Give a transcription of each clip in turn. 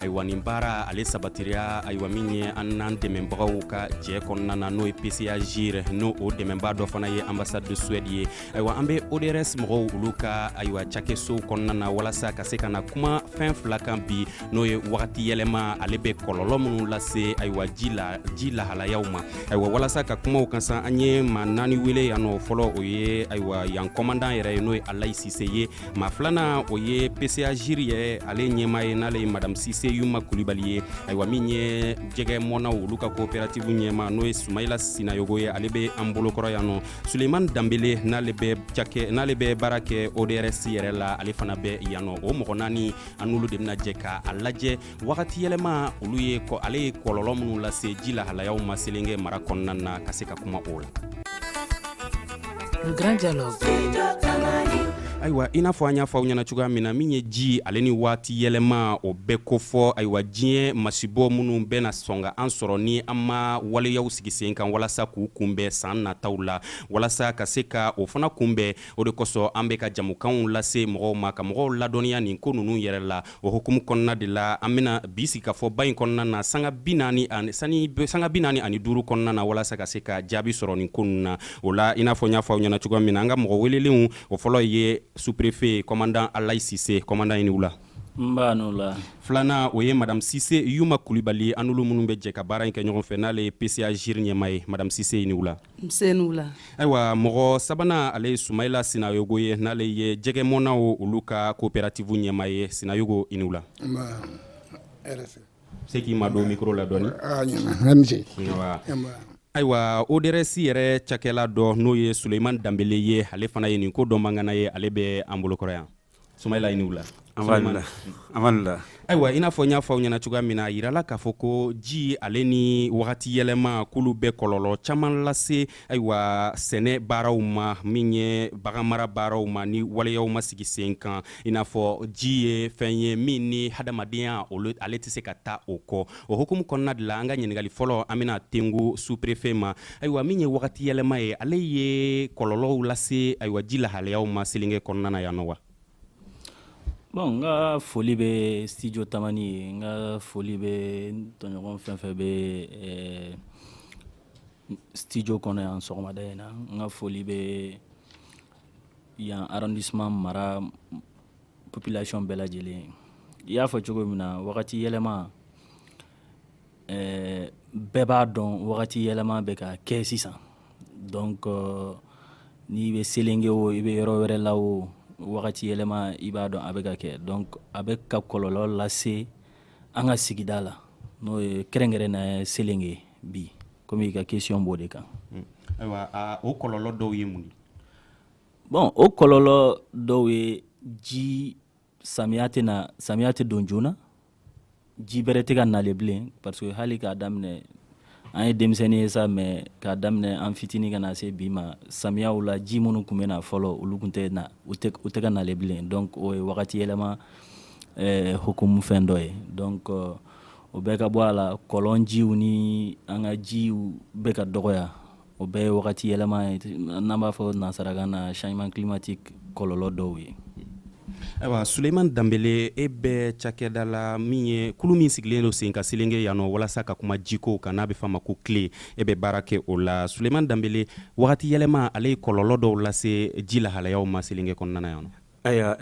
ayiwa nin baara ale sabatiriya ayiwa min ye an n'an dɛmɛbagaw ka jɛ kɔnɔna na n'o ye pcagir n'o o dɛmɛba dɔ fana ye ambassade de suède ye ayiwa an bɛ odrs mɔgɔw olu ka ayiwa cakɛsow kɔnɔna na walasa ka se ka na kuma fɛn fila kan bi n'o ye wagati yɛlɛma ale bɛ kɔlɔlɔ minnu lase ayiwa ji la ji lahalayaw ma ayiwa walasa ka kuma u kan sa an ye maa naani wele yan nɔ fɔlɔ o ye ayiwa yan kɔmandan yɛrɛ ye n'o ye alayi sise ye maa filanan o ye pcagir ye ale ɲɛmaa ye n'ale ye madame sise yuma kulibali ye ayiwa min ye jɛgɛmɔnnaw olu ka coopérative ɲɛmaa n'o ye sumayila sinayogo ye ale bɛ an bolokɔrɔ yan nɔ suleiman danbele n'ale bɛ cakɛ n'ale bɛ baara kɛ odrs yɛrɛ la ale fana bɛ yan nɔ o mɔgɔ naani an n'olu de bɛna jɛ ka a lajɛ wagati yɛlɛma olu ye kɔ ale ye kɔlɔlɔ minnu lase ji lahalayaw ma selenge mara kɔnɔna na ka se ka kuma o la ayiwa i n'a fɔ an y'a fɔ aw ɲɛna cogoya min na min ye ji ale ni waati yɛlɛma o bɛɛ kofɔ ayiwa diɲɛ masibɔ minnu bɛna sɔn ka an sɔrɔ ni an ma waleyaw sigi sen kan walasa k'u kunbɛn san nataw la walasa ka se ka o fana kunbɛn o de kosɔn an bɛ ka jamukanw lase mɔgɔw ma ka mɔgɔw ladɔnniya nin ko ninnu yɛrɛ la o hukumu kɔnɔna de la an bɛna bi sigikafɔba in kɔnɔna na sanga bi naani ani sani sanga bi naani ani duuru kɔnɔna na walasa ka se ka jaabi sɔrɔ nin ko ninnu na o la i n'a fɔ n y'a fɔ aw ɲɛna cogoya min na an ka mɔgɔ welelenw o fɔlɔ ye sous-préfet kɔmandan alayi sise kɔmandan i ni wula nba i ni wula filanan o ye madame sise yuma kulibali an n'olu minnu bɛ jɛ ka baara in kɛ ɲɔgɔn fɛ n'ale ye pcagir ɲɛmaa ye madame sise i ni wula nse i ni wula ayiwa mɔgɔ sabanan ale ye sumayila sinayogo ye n'ale ye jɛgɛmɔnnaw olu ka coopérative ɲɛmaa ye sinayogo i ni wula se k'i madon mikoro la dɔɔni ayiwa odrs yɛrɛ cakɛla dɔ n'o ye suleiman danbele ye ale fana ye nin ko dɔnbaa ŋana ye ale bɛ an bolokɔrɔ yan Sumayila i ni wula. Nba, i ni wula. Ayiwa i n'a fɔ n y'a fɔ aw ɲɛna cogoya min na, a yirala k'a fɔ ko ji ale ni wagati yɛlɛma k'olu bɛ kɔlɔlɔ caman lase ayiwa sɛnɛ baaraw ma min ye baganmara baaraw ma ni waleyaw ma sigi sen kan i n'a fɔ ji ye fɛn ye min ni hadamadenya ale tɛ se ka taa o kɔ o hukumu kɔnɔna de la an ka ɲininkali fɔlɔ an bɛna tengu sous-préfet ma ayiwa min ye wagati yɛlɛma ye ale ye kɔlɔlɔw lase ayiwa ji lahalayaw ma selenge kɔnɔna na yan nɔ wa bon n ka foli bɛ studio tamani ye n ka foli bɛ n tɔɲɔgɔn fɛn fɛn bɛ eh, studio kɔnɔ yan sɔgɔmada in na n ka foli bɛ yan arrondissement mara population bɛɛ lajɛlen i y'a fɔ cogo min na wagati yɛlɛma ɛɛ bɛɛ b'a dɔn wagati yɛlɛma bɛ ka kɛ sisan donc euh, n'i bɛ selenge o i bɛ yɔrɔ wɛrɛ la o wagati yɛlɛma i b'a dɔn a bɛ ka kɛ donc a bɛ ka kɔlɔlɔ lase an ka sigida la n'o ye kɛrɛnkɛrɛnnenya selenge bi komi i ka question b'o de kan hmm. ayiwa o kɔlɔlɔ dɔw ye mun ye bon o kɔlɔlɔ dɔw ye ji samiya tɛna samiya tɛ don joona ji bɛrɛ tɛ ka nale bilen parce que hali k'a daminɛ an ye denmisɛnnin ye sa mais k'a daminɛ an fitini ka na se bi ma samiyaw la ji minnu tun bɛ na fɔlɔ olu tun tɛ na u tɛ ka nale bilen donc o ye wagati yɛlɛma eh, hukumu fɛn dɔ ye donc uh, o bɛɛ ka bɔ a la kɔlɔn jiw ni an ka jiw bɛ ka dɔgɔya o bɛɛ ye wagati yɛlɛma ye n'an b'a fɔ nansarakan na changement climatique kɔlɔlɔ dɔw ye ayiwa suleiman danbele e bɛ cakɛda la min ye kulu min sigilen don sen kan selenge yan nɔ walasa ka kuma jiko kan n'a bɛ f'a ma ko CLE e bɛ baara kɛ o la suleiman danbele wagati yɛlɛma ale ye kɔlɔlɔ dɔw lase ji lahalayaw ma selenge kɔnɔna na yan nɔ Ayiwa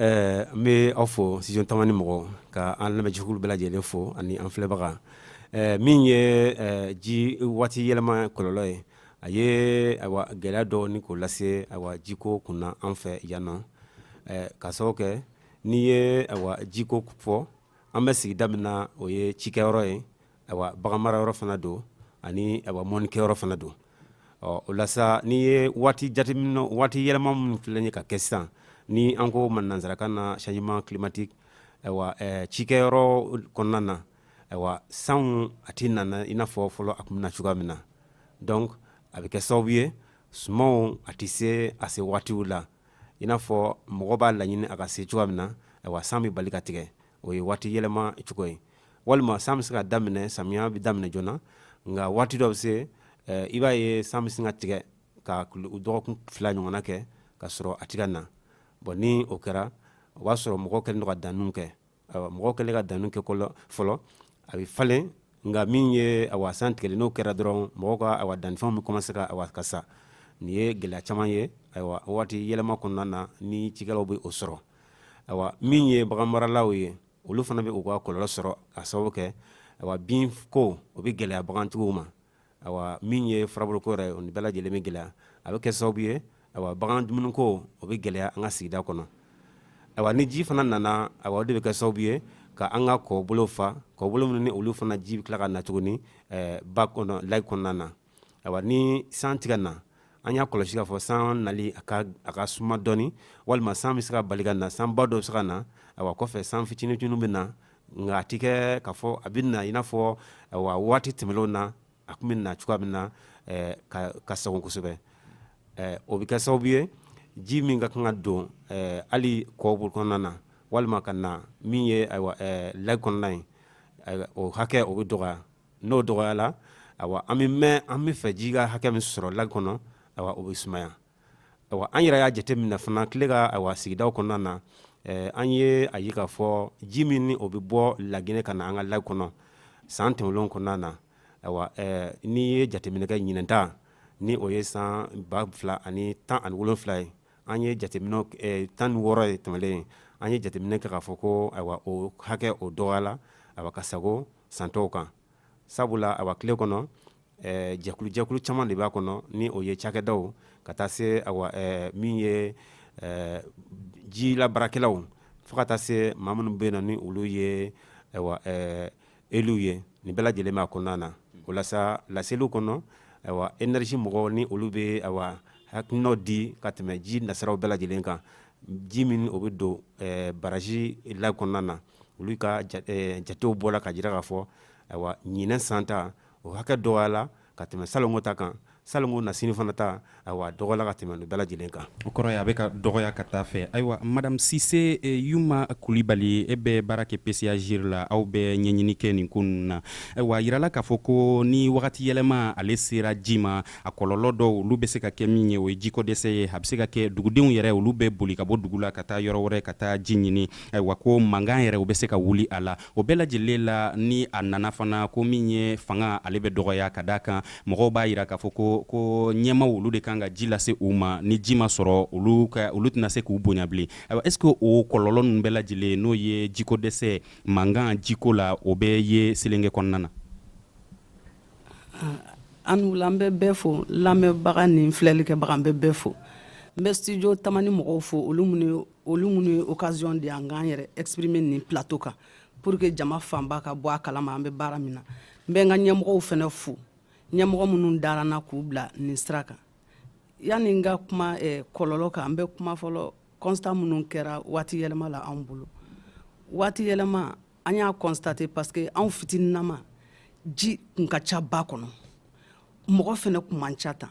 n bɛ aw fo studio tamani mɔgɔ ka an lamɛnjɛkulu bɛɛ lajɛlen fo ani an filɛbaga min ye ji waati yɛlɛma kɔlɔlɔ ye a ye ayiwa gɛlɛya dɔ ni ko lase ayiwa jiko kunna an fɛ yan nɔ ka sababu kɛ n'i ye ayiwa jiko fɔ an bɛ sigida min na o ye cikɛyɔrɔ ye ayiwa baganmarayɔrɔ fana don ani ayiwa mɔnnikɛyɔrɔ fana don ɔ o la sa n'i ye waati jateminɛ waati yɛlɛma minnu filɛ ye ka kɛ sisan ni an k'o ma nansarakan na changement climatique ayiwa ɛɛ cikɛyɔrɔ kɔnɔna na ayiwa sanw a tɛ nana i n'a fɔ fɔlɔ a tun bɛ na cogoya min na donc a bɛ kɛ sababu ye sumanw a tɛ se a se waatiw la i n'a fɔ mɔgɔ b'a laɲini a ka se cogoya min na ayiwa san bɛ bali ka tigɛ o ye waati yɛlɛma cogo ye walima san bɛ se ka daminɛ samiya bɛ daminɛ joona nka waati dɔ bɛ se eh, i b'a ye san bɛ se ka tigɛ ka dɔgɔkun fila ɲɔgɔnna kɛ ka sɔrɔ a tɛ ka na bon ni o kɛra o b'a sɔrɔ mɔgɔw kɛlen don ka danniw kɛ mɔgɔw kɛlen ka danniw kɛ fɔlɔ a bɛ falen nka min ye awa san tigɛli n'o kɛra dɔrɔn mɔgɔw ka awa dannifɛnw bɛ commencer ka awa ka sa nin ye gɛlɛya caman ye ayiwa waati yɛlɛma kɔnɔna na ni cikɛlaw bɛ o sɔrɔ ayiwa min ye baganmaralaw ye olu fana bɛ u ka kɔlɔlɔ sɔrɔ ka sababu kɛ ayiwa binko o bɛ gɛlɛya bagantigiw ma ayiwa min ye furabuluko yɛrɛ o ni bɛɛ lajɛlen bɛ gɛlɛya a bɛ kɛ sababu ye ayiwa bagan dumuniko o bɛ gɛlɛya an ka sigida kɔnɔ ayiwa ni ji fana nana ayiwa o de bɛ kɛ sababu ye ka an ka kɔbolo fa kɔbolo minnu ni olu fana ji bɛ tila ka na tuguni ɛɛ ba kɔnɔ lac kɔnɔna na ayiwa ni san tigɛ na an y'a kɔlɔsi k'a fɔ san nali a ka a ka suma dɔɔni walima san bɛ se ka bali ka na sanba dɔ bɛ se ka na ayiwa kɔfɛ san fitininjuru bɛ na nka a tɛ kɛ k'a fɔ a bɛ na i n'a fɔ ayiwa waati tɛmɛnlenw na a tun bɛ na cogoya min na ɛɛ ka ka sago kosɛbɛ ɛɛ o bɛ kɛ sababu ye ji min ka kan ka don ɛɛ hali kɔbolo kɔnɔna na walima ka na min ye ayiwa ɛɛ lac kɔnɔna ye o hakɛ o bɛ dɔgɔya n'o dɔgɔyala an bɛ mɛn an bɛ fɛ ji ka hakɛ min sɔrɔ lac kɔnɔ o bɛ sumaya an yɛrɛ y'a jateminɛ fana CLE ka sigida kɔnɔna na an ye a ye k'a fɔ ji min ni o bɛ bɔ laginɛ ka na an ka lac kɔnɔ san tɛmɛnlenw kɔnɔna na n'i ye jateminɛ kɛ ɲinan ta ni o ye san ba fila ani tan ani wolon wolonwula ye an ye jate tan ni wɔɔrɔ ye tɛmɛlen ye an ye jateminɛ kɛ k'a fɔ ko ayiwa o hakɛ o dɔgɔyala ka sago san tɔw kan sabula a CLE kɔnɔ jɛkulu jɛkulu caman de b'a kɔnɔ ni o ye cakɛdaw ka taa se min ye ji labaarakɛlaw fo ka taa se maa minnu bɛ na ni olu ye élus ye nin bɛɛ lajɛlen b'a kɔnɔna na walasa laseliw kɔnɔ énergie mɔgɔw ni olu bɛ hakilinaw di ka tɛmɛ ji nasiraw bɛɛ lajɛlen kan ji min o bɛ don baraji lac kɔnɔna na olu ka jatew bɔra ka jira k'a fɔ ayiwa ɲinan san ta o hakɛ dɔgɔyala ka tɛmɛ salon ta kan salon nasini fana ta dɔgɔyala ka tɛmɛ nin bɛɛ lajɛlen kan o kɔrɔ ye a bɛ ka dɔgɔya ka taa fɛ ayiwa madame sise yuma kulibali e bɛ baara kɛ PCA-GIRE la aw bɛ ɲɛɲini kɛ nin ko ninnu na ayiwa a yirala k'a fɔ ko ni wagati yɛlɛma ale sera ji ma a kɔlɔlɔ dɔw olu bɛ se ka kɛ min ye o ye jiko dɛsɛ ye a bɛ se ka kɛ dugudenw yɛrɛ olu bɛ boli ka bɔ dugu la ka taa yɔrɔ wɛrɛ ka taa ji ɲini ayiwa ko mankan yɛrɛ o bɛ se ka wuli a la o bɛɛ lajɛlen la ni a nana fana ko min ye fanga ale bɛ dɔgɔya ka da a kan mɔgɔw b'a yira k'a fɔ ko ko ɲɛmaaw olu de kan ka ji lase u ma ni ji ma sɔrɔ olu ka olu tɛna se k'u bonya bilen ayiwa est ce que o kɔlɔlɔ ninnu bɛɛ lajɛlen n'o ye jiko dɛsɛ mankan jiko la o bɛ ye selenge kɔnɔna na aw ni wula an bɛ bɛɛ fo lamɛnbaga ni filɛlikɛbaga an bɛ bɛɛ fo n bɛ studio tamani mɔgɔw fo olu minnu olu minnu ye occasion di an k'an yɛrɛ exprimer nin plateau kan pour que jama fanba ka bɔ a kalama an bɛ baara min na n bɛ n ka ɲɛmɔgɔw fana fo ɲɛmɔgɔ minnu dara n na k'u bila nin sira kan yanni n ka kuma eh, kɔlɔlɔ kan n bɛ kuma fɔlɔ constat minnu kɛra waati yɛlɛma la anw bolo waati yɛlɛma an y'a constater parce que anw fitininama ji kun ka ca ba kɔnɔ mɔgɔ fana kun man ca tan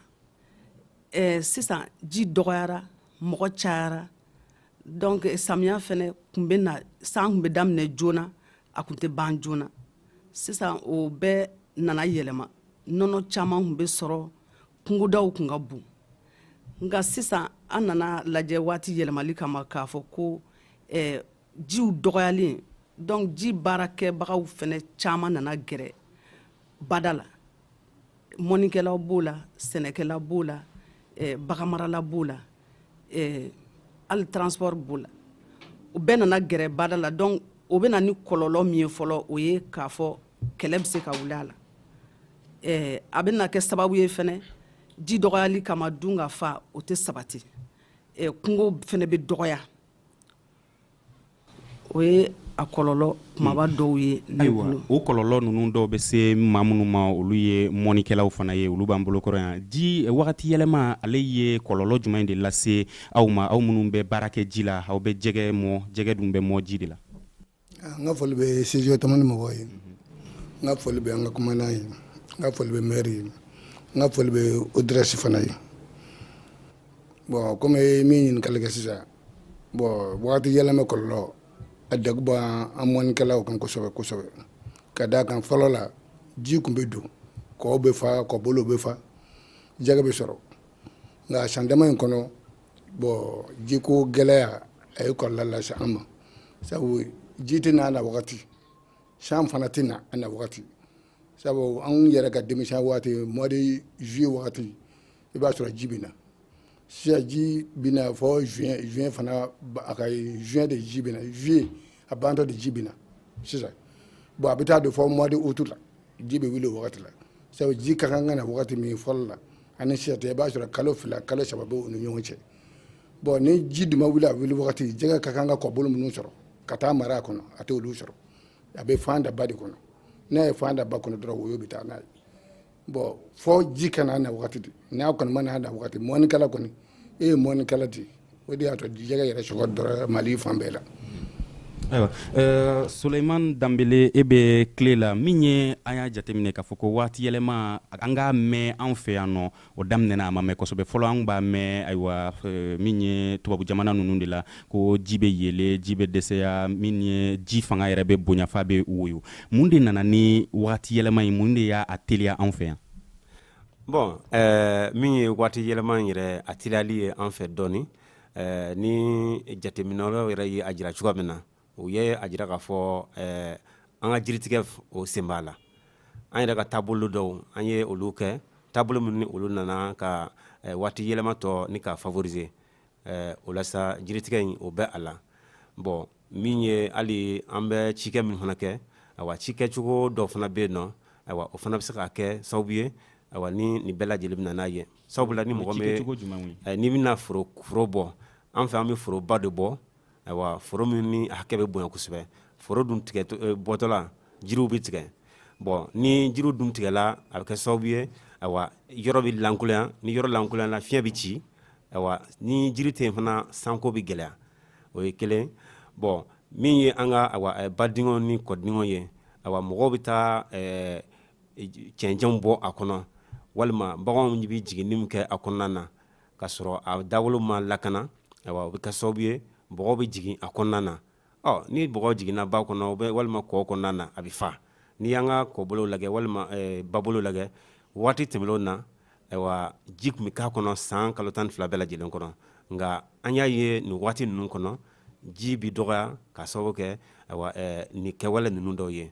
eh, sisan ji dɔgɔyara mɔgɔ cayara donc samiya fɛnɛ kun bɛ na san kun bɛ daminɛ joona a kun tɛ ban joona sisan o bɛɛ nana yɛlɛma nɔnɔ caman kun bɛ sɔrɔ kungodaw kun ka bon nka sisan an nana lajɛ waati yɛlɛmali kama k'a fɔ ko eh, jiw dɔgɔyalen donc ji baarakɛbagaw fɛnɛ caman nana gɛrɛ bada la mɔnikɛlaw b'o la sɛnɛkɛla b'o la eh, baganmarala b'o la eh, hali transport b'o la o bɛɛ nana gɛrɛ bada la donc o bɛ na ni kɔlɔlɔ min ye fɔlɔ o ye k'a fɔ kɛlɛ bɛ se ka wuli a la eh, a bɛna kɛ sababu ye fɛnɛ ji dɔgɔyali kama dunkafa o tɛ sabati eh, kungo fɛnɛ bɛ dɔgɔya o ye a kɔlɔlɔ kumaba hmm. dɔw ye ayiwa o kɔlɔlɔ ninnu dɔw bɛ se maa minnu ma olu ye mɔnikɛlaw fana ye olu b'an bolokɔrɔ yan ji wagati yɛlɛma ale ye kɔlɔlɔ jumɛn de lase aw ma aw minnu bɛ baara kɛ ji la aw bɛ jɛgɛ mɔ jɛgɛ dun bɛ mɔ ji de la ah, n ka foli bɛ studio tamani mɔgɔw ye n ka foli bɛ an ka kumandan ye n ka foli bɛ mɛri ye n ka foli bɛ ODRS fana ye bɔn komi min ɲininkali kɛ sisan bɔn wagati yɛlɛma kɔlɔlɔ a dakuba an mɔnikɛlaw kan kosɛbɛ kosɛbɛ ka d'a kan fɔlɔ la ji kun bɛ don kɔw bɛ fa kɔbolo bɛ fa jɛgɛ bɛ sɔrɔ nka san dama in kɔnɔ bɔn jiko gɛlɛya a ye kɔlɔlɔ lase an ma sabu ji tɛ n'a na wagati san fana tɛ na a na wagati sabu an yɛrɛ ka denmisɛn waati mois de juillet wagati i b'a sɔrɔ ji bɛ na sisan ji bɛ na fɔ juin juin fana a ka juin de ji bɛ na juillet a bantɔ de ji bɛ na sisan bon a bɛ taa don fɔ mois de août la ji bɛ wuli o wagati la sabu ji ka kan ka na wagati min fɔlɔ la ani sisan tɛ i b'a sɔrɔ kalo fila kalo saba bɛ u ni ɲɔgɔn cɛ bɔn ni ji dun ma wuli a wuli wagati jɛgɛ ka kan ka kɔbolo minnu sɔrɔ ka taa mara a kɔnɔ a t'olu sɔrɔ a bɛ fan da ba de kɔnɔ n'a ye fan da ba kɔnɔ dɔrɔn woyo bɛ taa n'a ye bɔn fɔ ji ka na a na wagati de n'a kɔni ma n'a na wagati mɔnikɛla kɔni e ye mɔnikɛla de o de y'a to jɛgɛ yɛrɛ sɔgɔ dɔrɔ mali fan bɛɛ la ayiwa uh, suleiman danbele e bɛ tile la min ye an y'a jateminɛ k'a fɔ ko waati yɛlɛma an k'a mɛn an fɛ yan nɔ o daminɛna a ma mɛn kosɛbɛ fɔlɔ an b'a mɛn ayiwa uh, min ye tubabu jamana ninnu de la ko ji bɛ yɛlɛ ji bɛ dɛsɛya min ye ji fanga yɛrɛ bɛ bonya f'a bɛ woyo mun de nana ni waati yɛlɛma in mun de y'a teliya an fɛ yan bon eh, min ye waati yɛlɛma in yɛrɛ a teliyali ye an fɛ dɔɔni eh, ni jateminɛlaw yɛrɛ ye a jira cogoya min na u ye a jira k'a fɔ eh, an ka jiritigɛ o sen b'a la an yɛrɛ ka taabolo dɔw an ye olu kɛ taabolo minnu ni olu nana ka waati yɛlɛma tɔ ni ka favoriser ɛɛ o la sa jiritigɛ in o bɛ a la bon min ye hali an bɛ cikɛ min fana kɛ ayiwa cikɛcogo dɔ fana bɛ yen n'o ayiwa o fana bɛ se ka kɛ sababu ye ayiwa ni nin bɛɛ lajɛlen bɛ na n'a ye sabula ni mɔgɔ bɛ n'i bɛna foro foro bɔ an fɛ an bɛ foroba de bɔ ayiwa foro min ni hakɛ bɛ bonya kosɛbɛ foro dun tigɛ eh, bɔtɔla jiriw bɛ tigɛ bon ni jiriw dun tigɛla a bɛ kɛ sababu ye ayiwa yɔrɔ bɛ lankolonya ni yɔrɔ lankolonyala fiɲɛ bɛ ci ayiwa ni jiri tɛ yen fana sanko bɛ gɛlɛya o ye kelen bon min ye an ka ayiwa eh, badingɛw ni kɔdingɛw ye ayiwa mɔgɔw bɛ taa eh, cɛncɛnw bɔ a kɔnɔ walima baganw bɛ jigin jimin kɛ a kɔnɔna na ka sɔrɔ a dawolo ma lakana o bɛ kɛ sababu ye bɔgɔ bɛ jigin a kɔnɔna na ɔ ni bɔgɔ jiginna ba kɔnɔ walima kɔ kɔnɔna na a bɛ fa n'i y'an ka kɔbolo lajɛ walima babolo lajɛ waati tɛmɛnen na ayiwa ji tun bɛ k'a kɔnɔ san kalo tan ni fila bɛɛ lajɛlen kɔnɔ nka an y'a ye nin waati ninnu kɔnɔ ji bɛ dɔgɔya k'a sababu kɛ nin kɛwale ninnu dɔw ye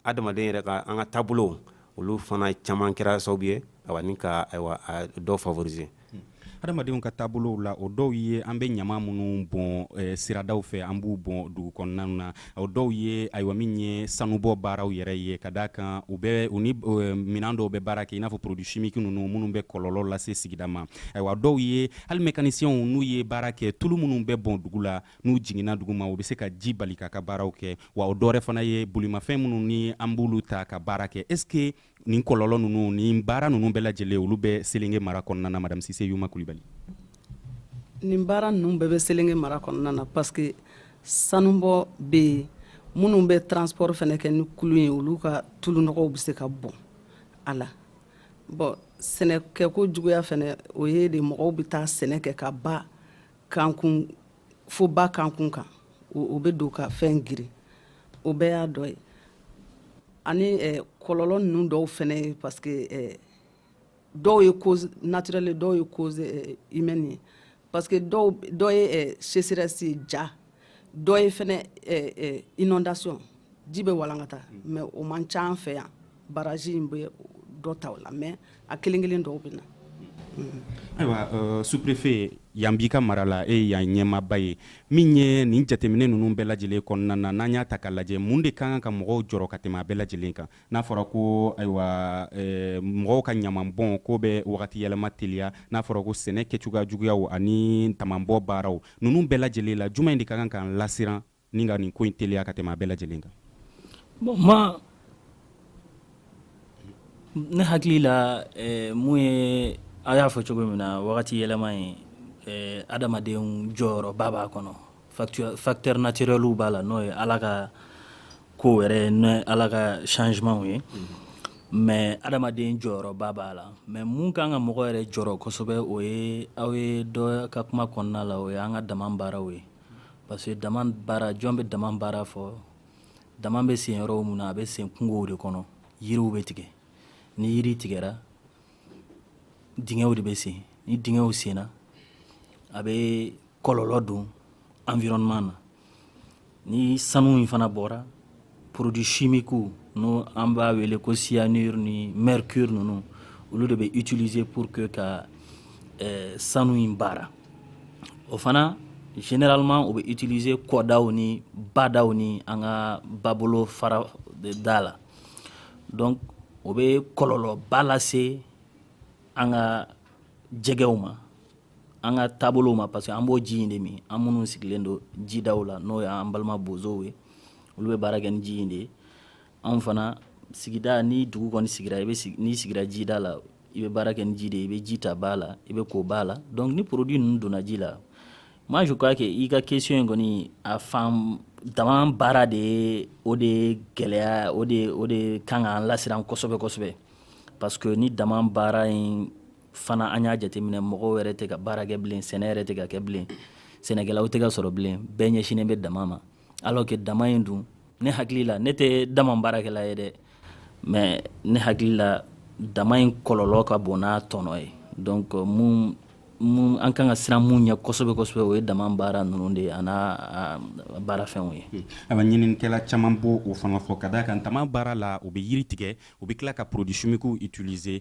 Adamaden yɛrɛ ka an ka taabolo olu fana caman kɛra sababu ye ni ka ayiwa dɔ favoriser adamadenw ka taabolo la o dɔw ye an bɛ ɲama minnu bɔn siradaw fɛ an b'u bɔn dugu kɔnɔna na o dɔw ye ayiwa min ye sanubɔ baaraw yɛrɛ ye ka d'a kan u bɛ u ni minɛn dɔw bɛ baara kɛ i n'a fɔ produit chimique ninnu minnu bɛ kɔlɔlɔ lase sigida ma ayiwa dɔw ye hali mécaniciens n'u ye baara kɛ tulu minnu bɛ bɔn dugu la n'u jiginna duguma u bɛ se ka ji bali k'a ka baaraw kɛ wa o dɔwɛrɛ fana ye bolimafɛn minnu ni an b'olu ta ka baara kɛ est ce que nin kɔlɔlɔ ninnu nin baara ninnu bɛɛ lajɛlen olu bɛ selenge mara kɔnɔna na madame sise yuma kulibali nin baara ninnu bɛɛ bɛ selenge mara kɔnɔna na parce que sanubɔ bɛ yen minnu bɛ transport fana kɛ ni kulu ye olu ka tulu nɔgɔw bɛ se ka bɔn a la bon sɛnɛkɛko juguya fana o ye de mɔgɔw bɛ taa sɛnɛ kɛ ka ba kankun fo ba kankun kan o bɛ don ka fɛn geren o bɛɛ y'a dɔ ye ani eh, kɔlɔlɔ ninnu dɔw fɛnɛ ye parce que eh, dɔw ye cause naturelle dɔw ye cause eh, humaine ye parce que dɔw dɔ ye eh, sécheresse ye ja dɔ ye fɛnɛ eh, eh, inondation ji bɛ walankata mais o man ca an fɛ yan baraji in bɛ dɔ ta o la mais a kelen kelen dɔw bɛ na ayiwa euh, sous-préfet yan b'i ka mara la e yan ɲɛmaaba ye min ye nin jateminɛ ninnu bɛɛ lajɛlen kɔnɔna na n'an y'a ta ka lajɛ mun de ka kan ka mɔgɔw jɔrɔ ka tɛmɛ a bɛɛ lajɛlen kan n'a fɔra ko ayiwa eh, mɔgɔw ka ɲamanbɔn ko bɛ wagati yɛlɛma teliya n'a fɔra ko sɛnɛ kɛcogoya juguyaw ani damanbɔ baaraw ninnu bɛɛ lajɛlen la jumɛn de ka kan k'an lasiran ni ka nin ko in teliya ka tɛmɛ a bɛɛ lajɛlen kan bon ne hakili la eh, mun ye a y'a fɔ cogo min na wagati yɛlɛma ye eh, adamadenw jɔyɔrɔba b'a kɔnɔ facteur naturelw b'a la n'o ye ala ka kow yɛrɛ ye n'o ye ala ka changementw ye mais adamaden jɔyɔrɔba b'a la mais mun kan ka mɔgɔ yɛrɛ jɔrɔ kosɛbɛ o ye aw ye dɔ ka kuma kɔnɔna la o ye an ka dama baaraw ye parce que dama baara jɔn bɛ dama baara fɔ dama bɛ sen yɔrɔ mun na a bɛ sen kungow de kɔnɔ yiriw bɛ tigɛ ni yiri tigɛra dingɛw de bɛ sen ni dingɛw senna a bɛ kɔlɔlɔ don environnement na Ni sanu in fana bɔra produits chimiques n'o an b'a wele ko cyanure ni mercure ninnu olu de bɛ utiliser pour que ka sanu in baara o fana généralement o bɛ utiliser kɔdaw ni badaw ni an ka babolofara da la donc o bɛ kɔlɔlɔba lase an ka jɛgɛw ma an ka taabolo ma parce que an b'o ji in de min an minnu sigilen don jidaw la n'o y'an balima bozow ye olu bɛ baara kɛ ni ji in de ye anw fana sigida ni dugu kɔni sigira i bɛ n'i sigira jida la i bɛ baara kɛ ni ji de ye i bɛ ji ta ba la i bɛ ko ba la donc ni produit ninnu donna ji la moi je crois que i ka question in kɔni a fan dama baara de ye o de ye gɛlɛya o de o de kan k'an lasiran kosɛbɛ kosɛbɛ parce que ni dama baara in fana an y'a jateminɛ mɔgɔw yɛrɛ tɛ ka baara kɛ bilen sɛnɛ yɛrɛ tɛ ka kɛ bilen sɛnɛkɛlaw tɛ ka sɔrɔ bilen bɛɛ ɲɛsinnen bɛ dama ma alors que dama in dun ne hakili la ne tɛ dama baarakɛla ye dɛ mais ne hakili la dama in kɔlɔlɔ ka bon n'a tɔnɔ ye donc euh, mun mun an kan ka siran mun ɲɛ kosɛbɛ kosɛbɛ o ye dama baara ninnu de ye a n'a baarafɛnw ye hmm. a bɛ ɲininikɛla caman b'o fana fɔ ka d'a kan dama baara la u bɛ yiri tigɛ u bɛ tila ka produits chimiques utiliser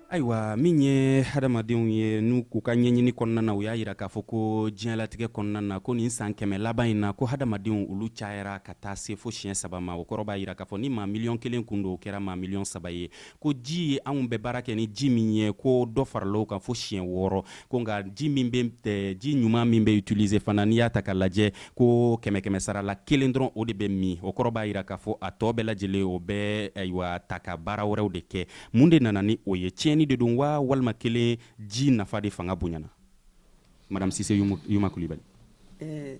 ayiwa min ye hadamadenw ye n'u k'u ka ɲɛɲini kɔnɔna na u y'a yira k'a fɔ ko diɲɛlatigɛ kɔnɔna na ko nin san kɛmɛ laban in na ko hadamadenw olu cayara ka taa se fo siɲɛ saba ma o kɔrɔ b'a yira k'a fɔ ni maa miliyɔn kelen kun don o kɛra maa miliyɔn saba ye ko ji anw bɛ baara kɛ ni ji min ye ko dɔ farala o kan fo siɲɛ wɔɔrɔ ko nka ji min bɛ ji ɲuman min bɛ utiliser fana n'i y'a ta ka lajɛ ko kɛmɛ kɛmɛ sara la kelen dɔrɔn o de bɛ min o kɔrɔ b'a yira k'a fɔ a tɔ bɛɛ lajɛlen o bɛ ayiwa ta ka baara wɛrɛw de kɛ mun de nana ni o ye tiɲɛni de don wa walima kelen ji nafa de fanga bonyana madame sise yuma kulibali eh,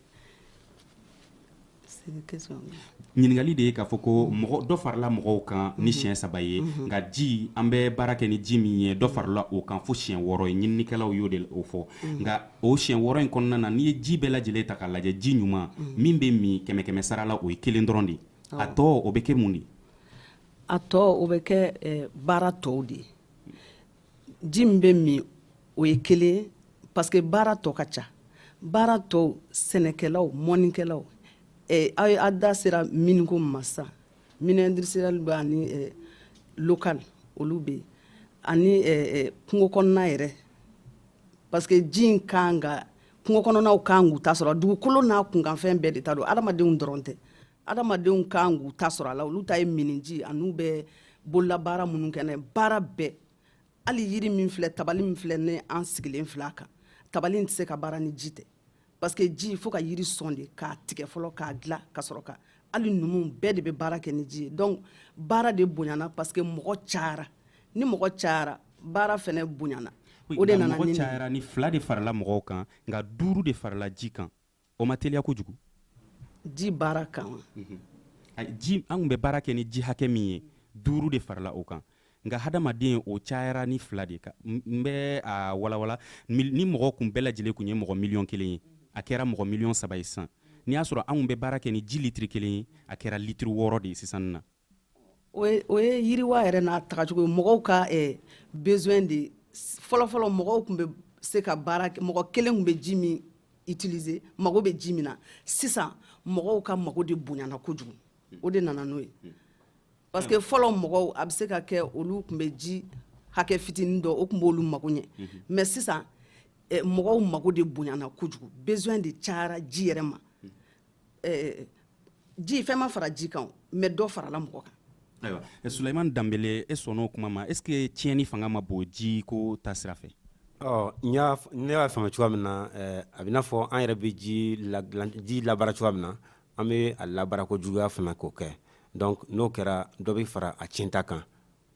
ɲininkali de ye k'a fɔ ko mɔgɔ dɔ farila mɔgɔw kan ni mhm. siɲɛ saba ye mhm. nka ji an bɛ baara kɛ ni ji min ye dɔ farila o kan fo siɲɛ wɔɔrɔ ye ɲininikɛlaw y'o de fɔ mhm. nka o siɲɛ wɔɔrɔ in kɔnɔna na n'i ye ji bɛɛ lajɛlen ta k'a lajɛ ji ɲuman min bɛ min kɛmɛ kɛmɛ sara la o ye kelen dɔrɔn de ye a tɔ o bɛ kɛ mun de ye a tɔ o bɛ kɛ eh, baara tɔw de ye ji min bɛ min o ye kelen ye parce que baara tɔ ka ca baara tɔw sɛnɛkɛlaw mɔnikɛlaw eh, aw da sera mine ko min ma sisan mine industriel bɛ ani eh, local olu bɛ yen ani kungo kɔnɔna yɛrɛ parce que ji in kan ka kungo kɔnɔnaw kan k'u ta sɔrɔ dugukolo n'a kunkanfɛn bɛɛ de ta don adamadenw dɔrɔn tɛ adamadenw kan k'u ta sɔrɔ a la olu ta ye minniji an'u bɛ bololabaara minnu kɛ n'a ye baara bɛɛ hali yiri min filɛ tabali min filɛ ne an sigilen filɛ a kan tabali tɛ se ka baara ni ji tɛ parce que ji fo ka yiri sɔn de k'a tigɛ fɔlɔ k'a dilan ka sɔrɔ ka hali numu bɛɛ de bɛ baara kɛ ni ji ye donc baara de bonyana parce que mɔgɔ cayara ni mɔgɔ cayara baara fɛnɛ bonyana o de nana mɔgɔ cayara ni fila de farala mɔgɔw kan nka duuru de farala ji kan o ma teliya kojugu ji baara kan wa mhm. ji an bɛ baara kɛ ni ji hakɛ min ye duuru de farala o kan nka hadamaden o cayara ni fila de kan n bɛ a walawala ni mɔgɔ kun bɛɛ lajɛlen kun ye mɔgɔ miliyɔn kelen ye a kɛra mɔgɔ miliyɔn saba ye sisan n'i y'a sɔrɔ anw bɛ baara kɛ ni ji litiri kelen ye a kɛra litiri wɔɔrɔ de ye sisan na o ye yiriwa yɛrɛ n'a tagacogo ye mɔgɔw ka besoin de fɔlɔfɔlɔ mɔgɔw kun bɛ se ka baara mɔgɔ kelen kun bɛ ji min utiliser mago bɛ ji min na sisan mɔgɔw ka mago de bonyana kojugu o de nana n'o ye parce que fɔlɔ mɔgɔw a bɛ se ka kɛ olu kun bɛ ji hakɛ fitinin dɔ o kun b'olu mago ɲɛ mais sisan mɔgɔw mago de bonyana kojugu besoin de cayara ji yɛrɛ ma eh, ji fɛn ma fara ji kan mais dɔ farala mɔgɔ kan ayiwa eh, suleiman danbele e sɔnna o kuma ma est ce que tiɲɛni fanga ma bon ji ko ta sira fɛ ɔ ne y'a faamu cogoya min na eh, a b'i n'a fɔ an yɛrɛ bɛ ji la ji labaara cogoya min na an bɛ a labaara ko juguya fana k'o kɛ donc n'o kɛra dɔ bɛ fara a tiɲɛta kan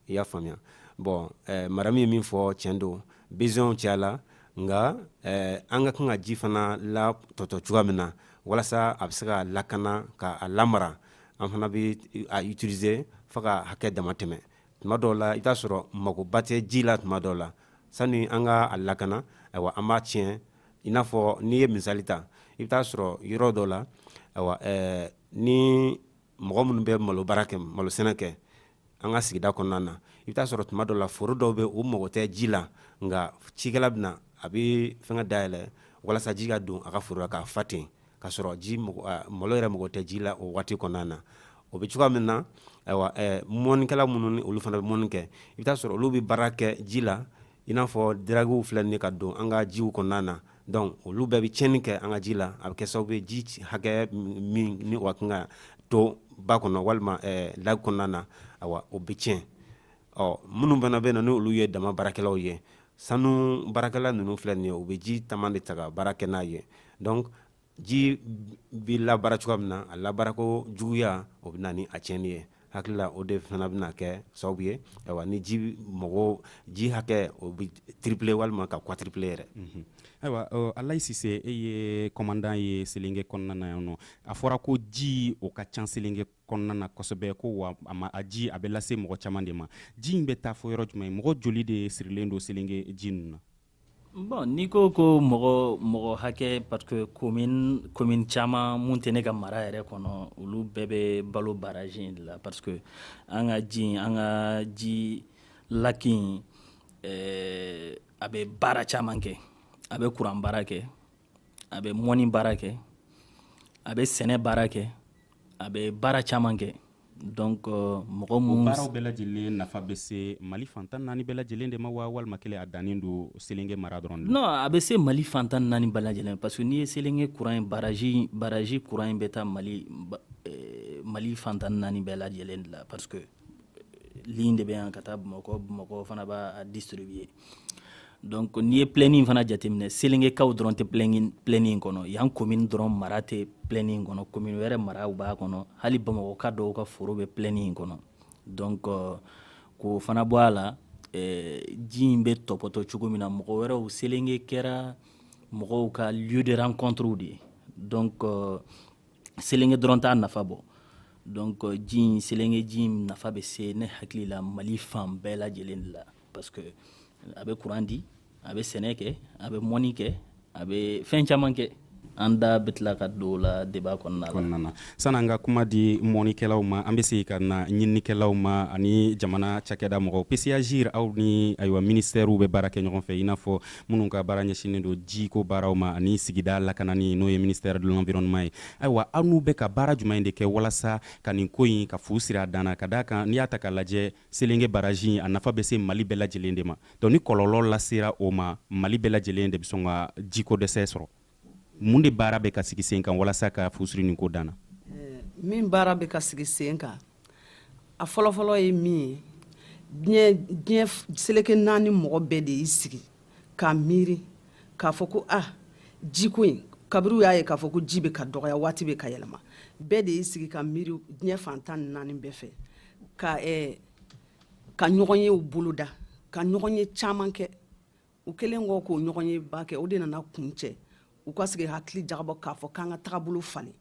i y'a faamuya bɔn eh, maramu ye min fɔ tiɲɛ don besoinw cayala nka eh, an ka kan ka ji fana latɔtɔ cogoya min na walasa a bɛ se ka lakana ka a lamara an fana bɛ a utiliser fo ka hakɛ dama tɛmɛ tuma dɔw la i bɛ t'a sɔrɔ magoba tɛ ji la tuma dɔw la sani an ka a lakana ayiwa an b'a tiɲɛ i n'a fɔ n'i ye misali ta i bɛ t'a sɔrɔ yɔrɔ dɔ la ayiwa ɛɛ ni mɔgɔ minnu bɛ malo baara kɛ malo sɛnɛ kɛ an ka sigida kɔnɔna na i bɛ t'a sɔrɔ tuma dɔ la foro dɔw bɛ u mago tɛ ji la nka cikɛla bɛ na a bɛ fɛn dayɛlɛ walasa ji ka don a ka foro k'a fa ten ka sɔrɔ ji malo yɛrɛ mago tɛ ji la o waati kɔnɔna na o bɛ cogoya min na ayiwa mɔnikɛla minnu olu fana bɛ mɔni kɛ i bɛ t'a sɔrɔ olu bɛ baara kɛ ji la i n'a fɔ diragiw filɛ nin ka don an ka jiw kɔnɔna na donc olu bɛɛ bɛ tiɲɛni kɛ an ka ji la a bɛ kɛ sababu ye ji hakɛ min ni o ka kan ka to ba kɔnɔ walima laki kɔnɔna na ayiwa o bɛ tiɲɛ ɔ minnu fana bɛ na ni olu ye dama baarakɛlaw ye sanu baarakɛla ninnu filɛ nin ye u bɛ ji caman de ta ka baara kɛ n'a ye ji bɛ labaara cogoya min na a labaarako juguya o bɛ na ni a tiɲɛni ye hakilila o de fana bɛna kɛ sababu ye ayiwa ni ji mago ji hakɛ o bɛ triplé walima ka quadruplé yɛrɛ ayiwa alayi sise e ye kɔmandan ye selenke kɔnɔna na yan nɔ a fɔra ko ji o ka ca selenke kɔnɔna na kosɛbɛ ko wa a ji a bɛ lase mɔgɔ caman de ma ji in bɛ taa fo yɔrɔ jumɛn mɔgɔ joli de sirilen don selenke ji ninnu na Bon n'i ko ko mɔgɔ mɔgɔ hakɛ parce que komini caman minnu tɛ ne ka mara yɛrɛ kɔnɔ olu bɛɛ bɛ balo baraji in de la parce que an ka ji an ka ji laki in a bɛ baara caman kɛ a bɛ kuran baara kɛ a bɛ mɔni baara kɛ a bɛ sɛnɛ baara kɛ a bɛ baara caman kɛ donc euh, mɔgɔ minnu baaraw bɛɛ lajɛlen nafa bɛ se mali fan tan naani bɛɛ lajɛlen de ma wa walima kelen a dannen don selenge mara dɔrɔn de non a bɛ se mali fan tan naani bɛɛ lajɛlen parce que n'i ye selenge kuran ye baraji baraji kuran in bɛ taa mali eh, mali fan tan naani bɛɛ lajɛlen de la parce que euh, ligne de bɛ yan ka taa bamakɔ bamakɔ fana b'a distribuer donc n'i ye plɛni in fana jateminɛ selengekaw dɔrɔn tɛ plɛni in kɔnɔ yan komini dɔrɔn mara tɛ plɛni in kɔnɔ komini wɛrɛ maraw b'a kɔnɔ hali bamakɔka dɔw ka foro bɛ plɛni in kɔnɔ donc k'o fana bɔ a la eh, ji in bɛ tɔpɔtɔ cogo min na mɔgɔ wɛrɛw selenge kɛra mɔgɔw ka lieu de rencontre de ye donc selenge dɔrɔn t'a nafa bɔ donc ji in selenge ji in nafa bɛ se ne hakili la mali fan bɛɛ lajɛlen de la parce que a bɛ courant di a bɛ sɛnɛ kɛ a bɛ mɔni kɛ a bɛ fɛn caman kɛ an da bɛ tila ka don la débat kɔnɔna na sani an ka kuma di mɔnikɛlaw ma an bɛ segin ka na ɲininikɛlaw ma ani jamana cakɛda mɔgɔw pcagire aw ni ayiwa minisitɛriw bɛ baara kɛ ɲɔgɔn fɛ i n'a fɔ minnu ka baara ɲɛsinnen don jiko baaraw ma ani sigida lakanani n'o ye ministère de l'environnement ye ayiwa aw n'u bɛ ka baara jumɛn de kɛ walasa ka nin ko in ka fu siri a dan na ka d'a kan n'i y'a ta k'a lajɛ Selenge baraji in a nafa bɛ se Mali bɛɛ lajɛlen de ma, donc ni kɔlɔlɔ lasera o ma, Mali bɛɛ lajɛlen de bɛ sɔn ka jiko dɛsɛ sɔrɔ. Mun de baara bɛ ka sigi sen kan walasa ka fu siri nin ko dan na? Min baara bɛ ka sigi sen kan, a fɔlɔfɔlɔ ye min ye, diɲɛ diɲɛ seleke naani mɔgɔ bɛɛ de y'i sigi ka miiri k'a fɔ ko a ah, jiko in kabiri u y'a ye k'a fɔ ko ji bɛ ka dɔgɔya waati bɛ ka yɛlɛma bɛɛ de y'i sigi ka miiri diɲɛ fan tan ni naani bɛɛ fɛ ka eh, ka ɲɔgɔnyew boloda ka ɲɔgɔnye caman kɛ u kɛlen kɔ k'o ɲɔgɔnyeba kɛ o de nana kuncɛ u ka sigi hakili jagabɔ k'a fɔ k'an ka tagabolo falen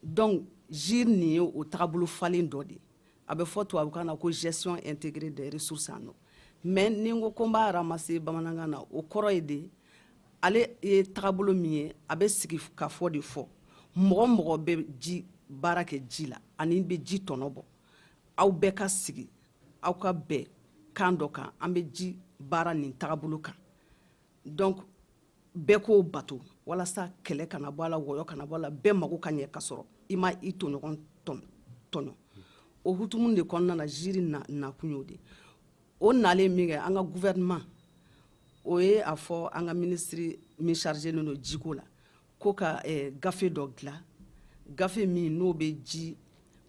donc gire nin ye o tagabolo falen dɔ de ye a bɛ fɔ tubabukan na ko gestion intégrée des ressources en eau mais ni n ko ko n b'a ramasser bamanankan na o kɔrɔ ye de ale ye tagabolo min ye a bɛ sigi k'a fɔ de fɔ mɔgɔ o mɔgɔ bɛ ji baara kɛ ji la ani bɛ ji tɔnɔ bɔ aw bɛɛ ka sigi aw ka bɛn kan dɔ kan an bɛ ji baara nin tagabolo kan donc bɛɛ k'o bato walasa kɛlɛ kana bɔ a la wɔyɔ kana bɔ a la bɛɛ mago ka ɲɛ ka sɔrɔ i ma i tɔɲɔgɔn tɔɲɔ o hutumu de kɔnɔna na gire nakun y'o de o nalen min kɛ an ka gouvernement o ye a fɔ an ka ministre min chargélen don jiko la ko ka eh, gafe dɔ dilan gafe min n'o bɛ ji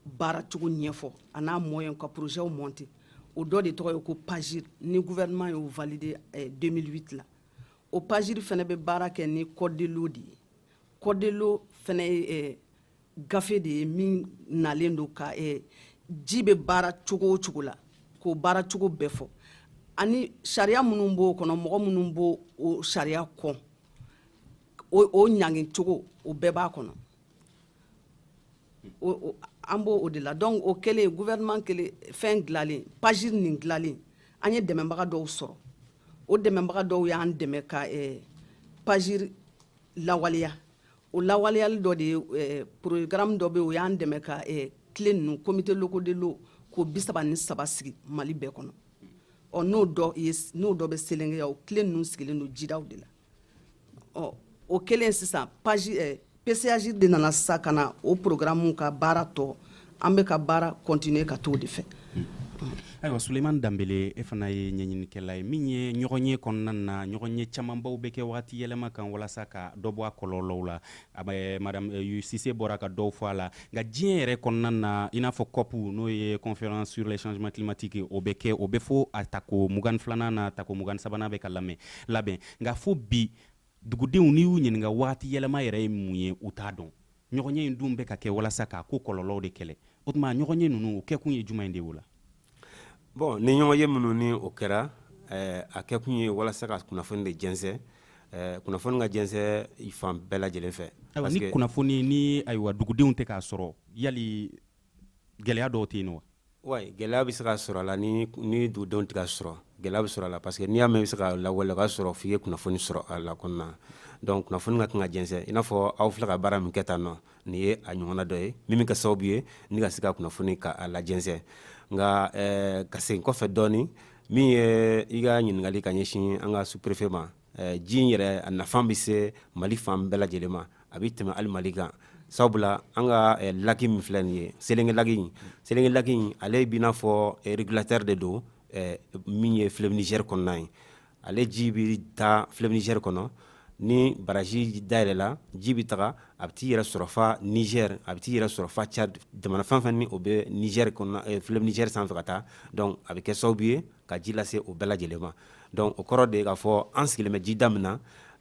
baara cogo ɲɛfɔ a n'a moyen ka projetw monter o dɔ de tɔgɔ ye ko pagire ni gouvernement y'o valider 2008 eh, la o pagire fana bɛ baara kɛ ni code de l'eau de ye code de l'eau fana ye eh, gafe de ye min nalen don ka eh, ji bɛ baara cogo o cogo la k'o baara cogo bɛɛ fɔ ani sariya minnu b'o kɔnɔ mɔgɔ minnu b'o o sariya kɔn o o ɲangi cogo o bɛɛ b'a kɔnɔ o o an b'o o de la donc o kɛlen gouvernement kɛlen fɛn dilanlen pagire nin dilanlen an ye dɛmɛbaga dɔw sɔrɔ o dɛmɛbaga dɔw y'an dɛmɛ ka eh, pagire lawaleya o lawaleyali dɔ de ye porogaramu dɔ bɛ o y'an dɛmɛ ka cle ninnu comités locaux de l'eau k'o bi saba ni saba sigi mali bɛɛ kɔnɔ ɔ n'o dɔ ye n'o dɔ bɛ selenge yan o cle ninnu sigilen don jidaw de la ɔ o kɛlen sisan pagire pcagire de nana sisan ka na o porogaramu ka baara tɔ an bɛ ka baara continuer ka t'o de fɛ ayiwa suleimani danbele e fana ye ɲɛɲinikɛla ye min ye ɲɔgɔnye kɔnɔna na ɲɔgɔnye camanbaw bɛ kɛ wagati yɛlɛma kan walasa ka dɔ bɔ a kɔlɔlɔw la madame euh, sise bɔra ka dɔw fɔ a la nka diɲɛ yɛrɛ kɔnɔna na i n'a fɔ cop n'o ye conférence sur les changements climatiques o bɛ kɛ o bɛ fo a tako mugan filanan na tako mugan sabanan bɛ ka lamɛn labɛn nka fo bi dugudenw n'i y'u ɲininka wagati yɛlɛma yɛrɛ ye mun ye u t'a dɔn Ɲɔgɔnye in dun bɛ ka kɛ walasa k'a ko kɔlɔlɔw de kɛlɛ. O tuma ɲɔgɔnye ninnu o kɛkun ye jumɛn de o la? Bon ni ɲɔgɔnye minnu ni o kɛra, eh, a kɛkun ye walasa ka kunnafoni de jɛnsɛn, eh, kunnafoni ka jɛnsɛn fan bɛɛ lajɛlen fɛ. Ayiwa, ni kunnafoni ni ayiwa dugudenw tɛ k'a sɔrɔ, yali gɛlɛya dɔw tɛ yen wa ouais gɛlɛya bɛ se ka sɔrɔ a la ni ni dugudenw tɛ k'a sɔrɔ gɛlɛya bɛ sɔrɔ a la parce que n'i y'a mɛn i bɛ se k'a lawale ka sɔrɔ f'i ye kunnafoni sɔrɔ a la kɔnɔna donc kunnafoni ka kan ka jɛnsɛn i n'a fɔ aw filɛ ka baara min kɛ tan nɔ nin ye a ɲɔgɔnna dɔ ye min bɛ kɛ sababu ye ni ka se ka kunnafoni k'a lajɛnsɛn nka ka segin kɔfɛ dɔɔnin min ye i ka ɲininkali ka ɲɛsin an ka sous-préfet ma ji in yɛrɛ a nafa bɛ se mali fan bɛɛ lajɛlen ma a bɛ tɛmɛ hali mali kan sabula an ka laki min filɛ nin ye selinge laki in ale b'i n'a fɔ régulateur de don min ye fleuve niger kɔnɔna ye ale ji bɛ taa fleuve niger kɔnɔ ni baraji dayɛlɛla ji bɛ taga a bɛ t'i yɛrɛ sɔrɔ fa niger a bɛ t'i yɛrɛ sɔrɔ fa tchad jamana fɛn fɛn ni o bɛ fleuve niger sanfɛ ka taa a bɛ kɛ sababu ye ka ji lase u bɛɛ lajɛlen ma donc o kɔrɔ de ye k'a fɔ an sigilen bɛ ji da min na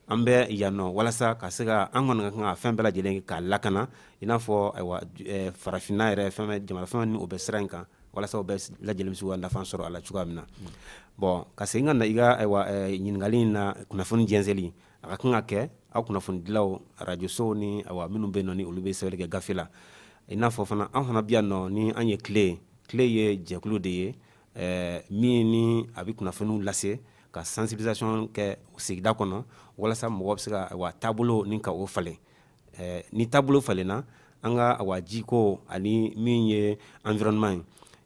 an bɛ yan nɔ walasa ka se ka an kɔni ka kan ka fɛn bɛɛ lajɛlen k'a lakana i n'a fɔ ayiwa eh, farafinna yɛrɛ fɛn jamana fɛn ni o bɛ sira in kan walasa u bɛɛ lajɛlen bɛ se ka nafa sɔrɔ a la cogoya min na bon ka segin ka na i ka ayiwa eh, ɲininkali in na kunnafoni jɛnsɛnli a ka kan ka kɛ aw kunnafonidilaw arajosow ni ayiwa minnu bɛ yen nɔ ni olu bɛ sɛbɛnni kɛ gafe la i n'a fɔ fana an fana bɛ yan nɔ ni an ye tile tile ye jɛkulu de ye ɛɛ min ni a bɛ kunnafoniw lase ka sensibilisation kɛ sigida kɔnɔ walasa mɔgɔ bɛ se ka ayiwa taabolo ni ka o falen ɛɛ ni taabolo falenna an ka ayiwa jiko ani min ye environnement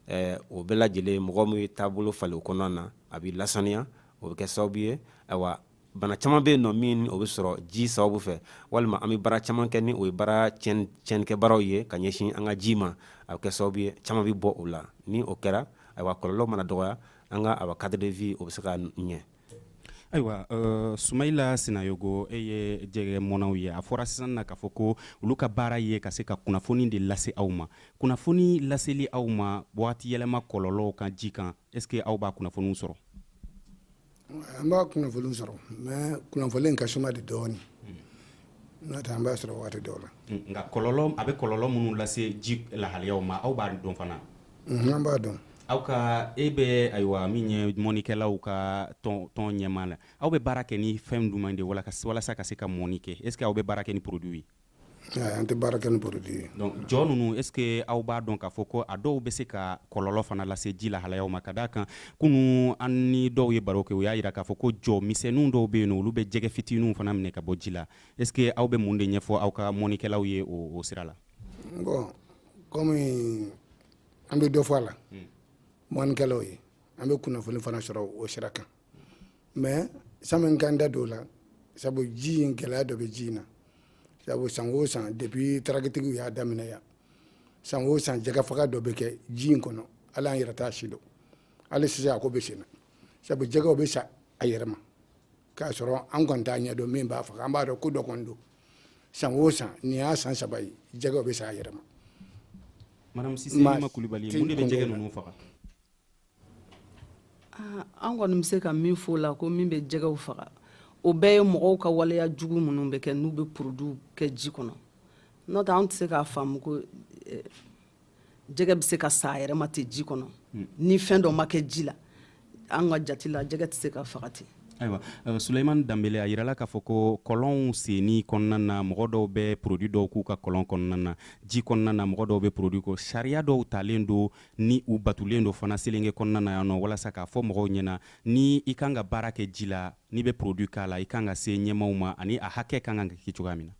ye ɛɛ o bɛɛ lajɛlen mɔgɔ min ye taabolo falen o kɔnɔna na a bɛ lasaniya o bɛ kɛ sababu ye ayiwa bana caman bɛ yen nɔ min o bɛ sɔrɔ ji sababu fɛ walima an bɛ baara caman kɛ ni o ye baara tiɲɛnikɛbaaraw ye ka ɲɛsin an ka ji ma a kɛ sababu ye caman bɛ bɔ o la ni o kɛra ayiwa kɔlɔlɔw mana dɔgɔya an ka ayiwa cadre de vie o bɛ se ka ɲɛ ayiwa sumayila sinayogo e ye jɛgɛ mɔnnaw ye a fɔra sisan na k'a fɔ ko olu ka baara ye ka se ka kunnafoni de lase aw ma kunnafoni laseli aw ma waati yɛlɛma kɔlɔlɔw kan ji kan est-ce que aw b'a kunnafoniw sɔrɔ An b'a kunnafoni sɔrɔ mais kunnafoni ka suma de dɔɔnin n'o tɛ an b'a sɔrɔ waati dɔw la nka a bɛ kɔlɔlɔ minnu lase ji lahalayaw ma aw b'a dɔn fana an b'a dɔn aw ka e bɛ ayiwa min ye mɔnikɛlaw ka tɔn ɲɛmaa la aw bɛ baara kɛ ni fɛn jumɛn de walasa ka se ka mɔni kɛ est-ce que aw bɛ baara kɛ ni produit ye An tɛ baara kɛ ni produit ye jɔ ninnu est-ce que aw b'a dɔn k'a fɔ ko a dɔw bɛ se ka kɔlɔlɔ fana lase ji lahalayaw ma ka d'a kan kunun an ni dɔw ye baro kɛ u y'a jira k'a fɔ ko jɔ misɛnw dɔw bɛ yen olu bɛ jɛgɛ fitininw fana minɛ ka bɔ ji la est-ce que aw bɛ mun de ɲɛfɔ aw ka mɔnikɛlaw ye o sira la kɔmi an bɛ dɔ fɔ a la mɔnikɛlaw ye an bɛ kunnafoni fana sɔrɔ o sira kan mais sani n ka n da don o la sabu ji in gɛlɛya dɔ bɛ ji in na sabu san o san depuis daragitigiw y'a daminɛ yan san o san jɛgɛ faga dɔ bɛ kɛ ji in kɔnɔ hali an yɛrɛ t'a sidɔn hali sisan a ko bɛ sen na sabu jɛgɛw bɛ sa a yɛrɛ ma k'a sɔrɔ an kɔni t'a ɲɛdɔn min b'a faga an b'a dɔn ko dɔ kɔni don san o san nin y'a san saba ye jɛgɛw bɛ sa a yɛrɛ ma madame sise ma kulibali mun de bɛ jɛgɛ ninnu faga ah, an kɔni bɛ se ka min fɔ o la ko min bɛ jɛgɛw faga o bɛɛ ye mɔgɔw ka waleya jugu minnu bɛ kɛ n'u bɛ produitw kɛ ji kɔnɔ n'o tɛ an tɛ se k'a faamu ko eh, jɛgɛ bɛ se ka sa a yɛrɛ ma ten ji kɔnɔ hmm. ni fɛn dɔ ma kɛ ji la an ka jate la jɛgɛ tɛ se ka faga ten ayiwa euh, suleiman danbele a yirala k'a fɔ ko kɔlɔnw senni kɔnɔna na mɔgɔ dɔw bɛ produit dɔw k'u ka kɔlɔn kɔnɔna na ji kɔnɔna na mɔgɔ dɔw bɛ produit ko sariya dɔw talen don ni u batulen don fana selenge kɔnɔna na yan nɔ walasa k'a fɔ mɔgɔw ɲɛna ni i kan ka baara kɛ ji la n'i bɛ produit k'a la i kan ka se ɲɛmaaw ma ani a hakɛ kan ka kɛ cogoya min na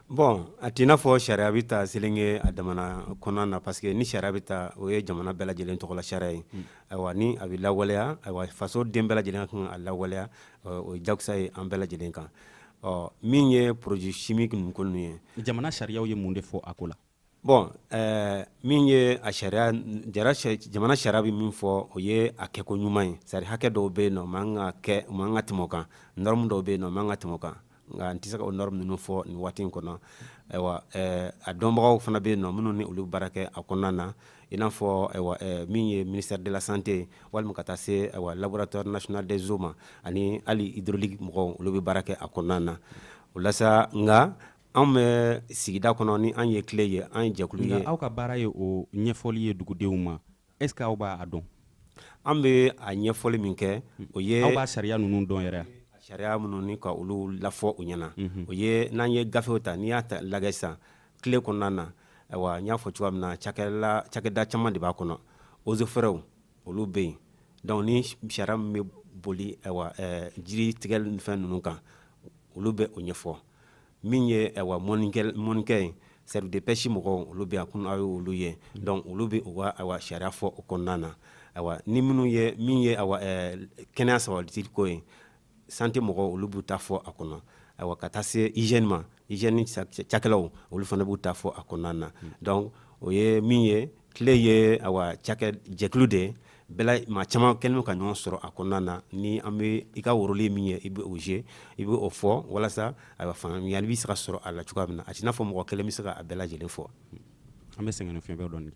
bon a t'i n'a fɔ sariya bɛ ta selenge a damana kɔnɔna na parce que ni sariya bɛ ta o ye jamana bɛɛ lajɛlen tɔgɔla sariya ye hmm. ayiwa ni a bɛ lawaleya ayiwa faso den bɛɛ lajɛlen ka kan k'a lawaleya o ye jakusa ye an bɛɛ lajɛlen kan ɔ min ye produit chimique ninnu ko ninnu ye jamana sariyaw ye mun de fɔ a ko la Bɔn ɛɛ min ye a sariya jamana sariya bɛ min fɔ o ye a kɛko ɲuman ye c'est-à-dire hakɛ dɔw bɛ yen nɔ man ka kɛ u man ka tɛmɛ o kan norme dɔw bɛ yen nɔ man ka tɛmɛ o kan nka n tɛ se ka o norme ninnu fɔ nin waati in kɔnɔ ayiwa ɛɛ a dɔnbagaw fana bɛ yen nɔ minnu ni olu bɛ baara kɛ a kɔnɔna na i n'a fɔ ayiwa ɛɛ min ye ministère de la santé ye walima ka taa se ayiwa laboratoire national des eaux ma ani hali hydraulique mɔgɔw olu bɛ baara kɛ a kɔnɔna na o la nka Anw bɛ sigida kɔnɔ ni an ye CLE ye an ye jɛkulu ye aw ka baara ye o ɲɛfɔli ye dugudenw ma est-ce que aw b'a dɔn an bɛ a ɲɛfɔli min kɛ o ye aw ka sariya ninnu dɔn yɛrɛ sariya minnu ni ka olu lafɔ u ɲɛna o ye n'an ye gafew ta n'i y'a lagɛ sisan CLE kɔnɔna na ayiwa n y'a fɔ cogoya min na cakɛda caman de b'a kɔnɔ eaux et forêts olu bɛ yen donc ni sariya min bɛ boli ayiwa jiri tigɛ fɛn ninnu kan olu bɛ o ɲɛfɔ min ye ayiwa mɔnikɛ ye service de pêche mɔgɔw olu bɛ a kun aw ye olu ye donc olu bɛ u ka sariya fɔ o kɔnɔna na ayiwa ni minnu ye min ye kɛnɛya sabatili ko ye santé mɔgɔw olu b'u ta fɔ a kɔnɔ ayiwa ka taa se hygiène ma hygiène cakɛlaw olu fana b'u ta fɔ a kɔnɔna na donc o ye min ye tile ye cakɛ jɛkulu de maa caman kɛnɛ ka ɲɔgɔn sɔrɔ a kɔnɔna na ni an bɛ i ka worolen min ye i bɛ o ze i bɛ o fɔ walasa a fanga ɲa bɛ se ka sɔrɔ a la cogoya min na a n'a fɔ mɔgɔ kelen bɛ se a bɛɛ lajɛlen fɔ an bɛ sɛgɛn fi dɔ dɔn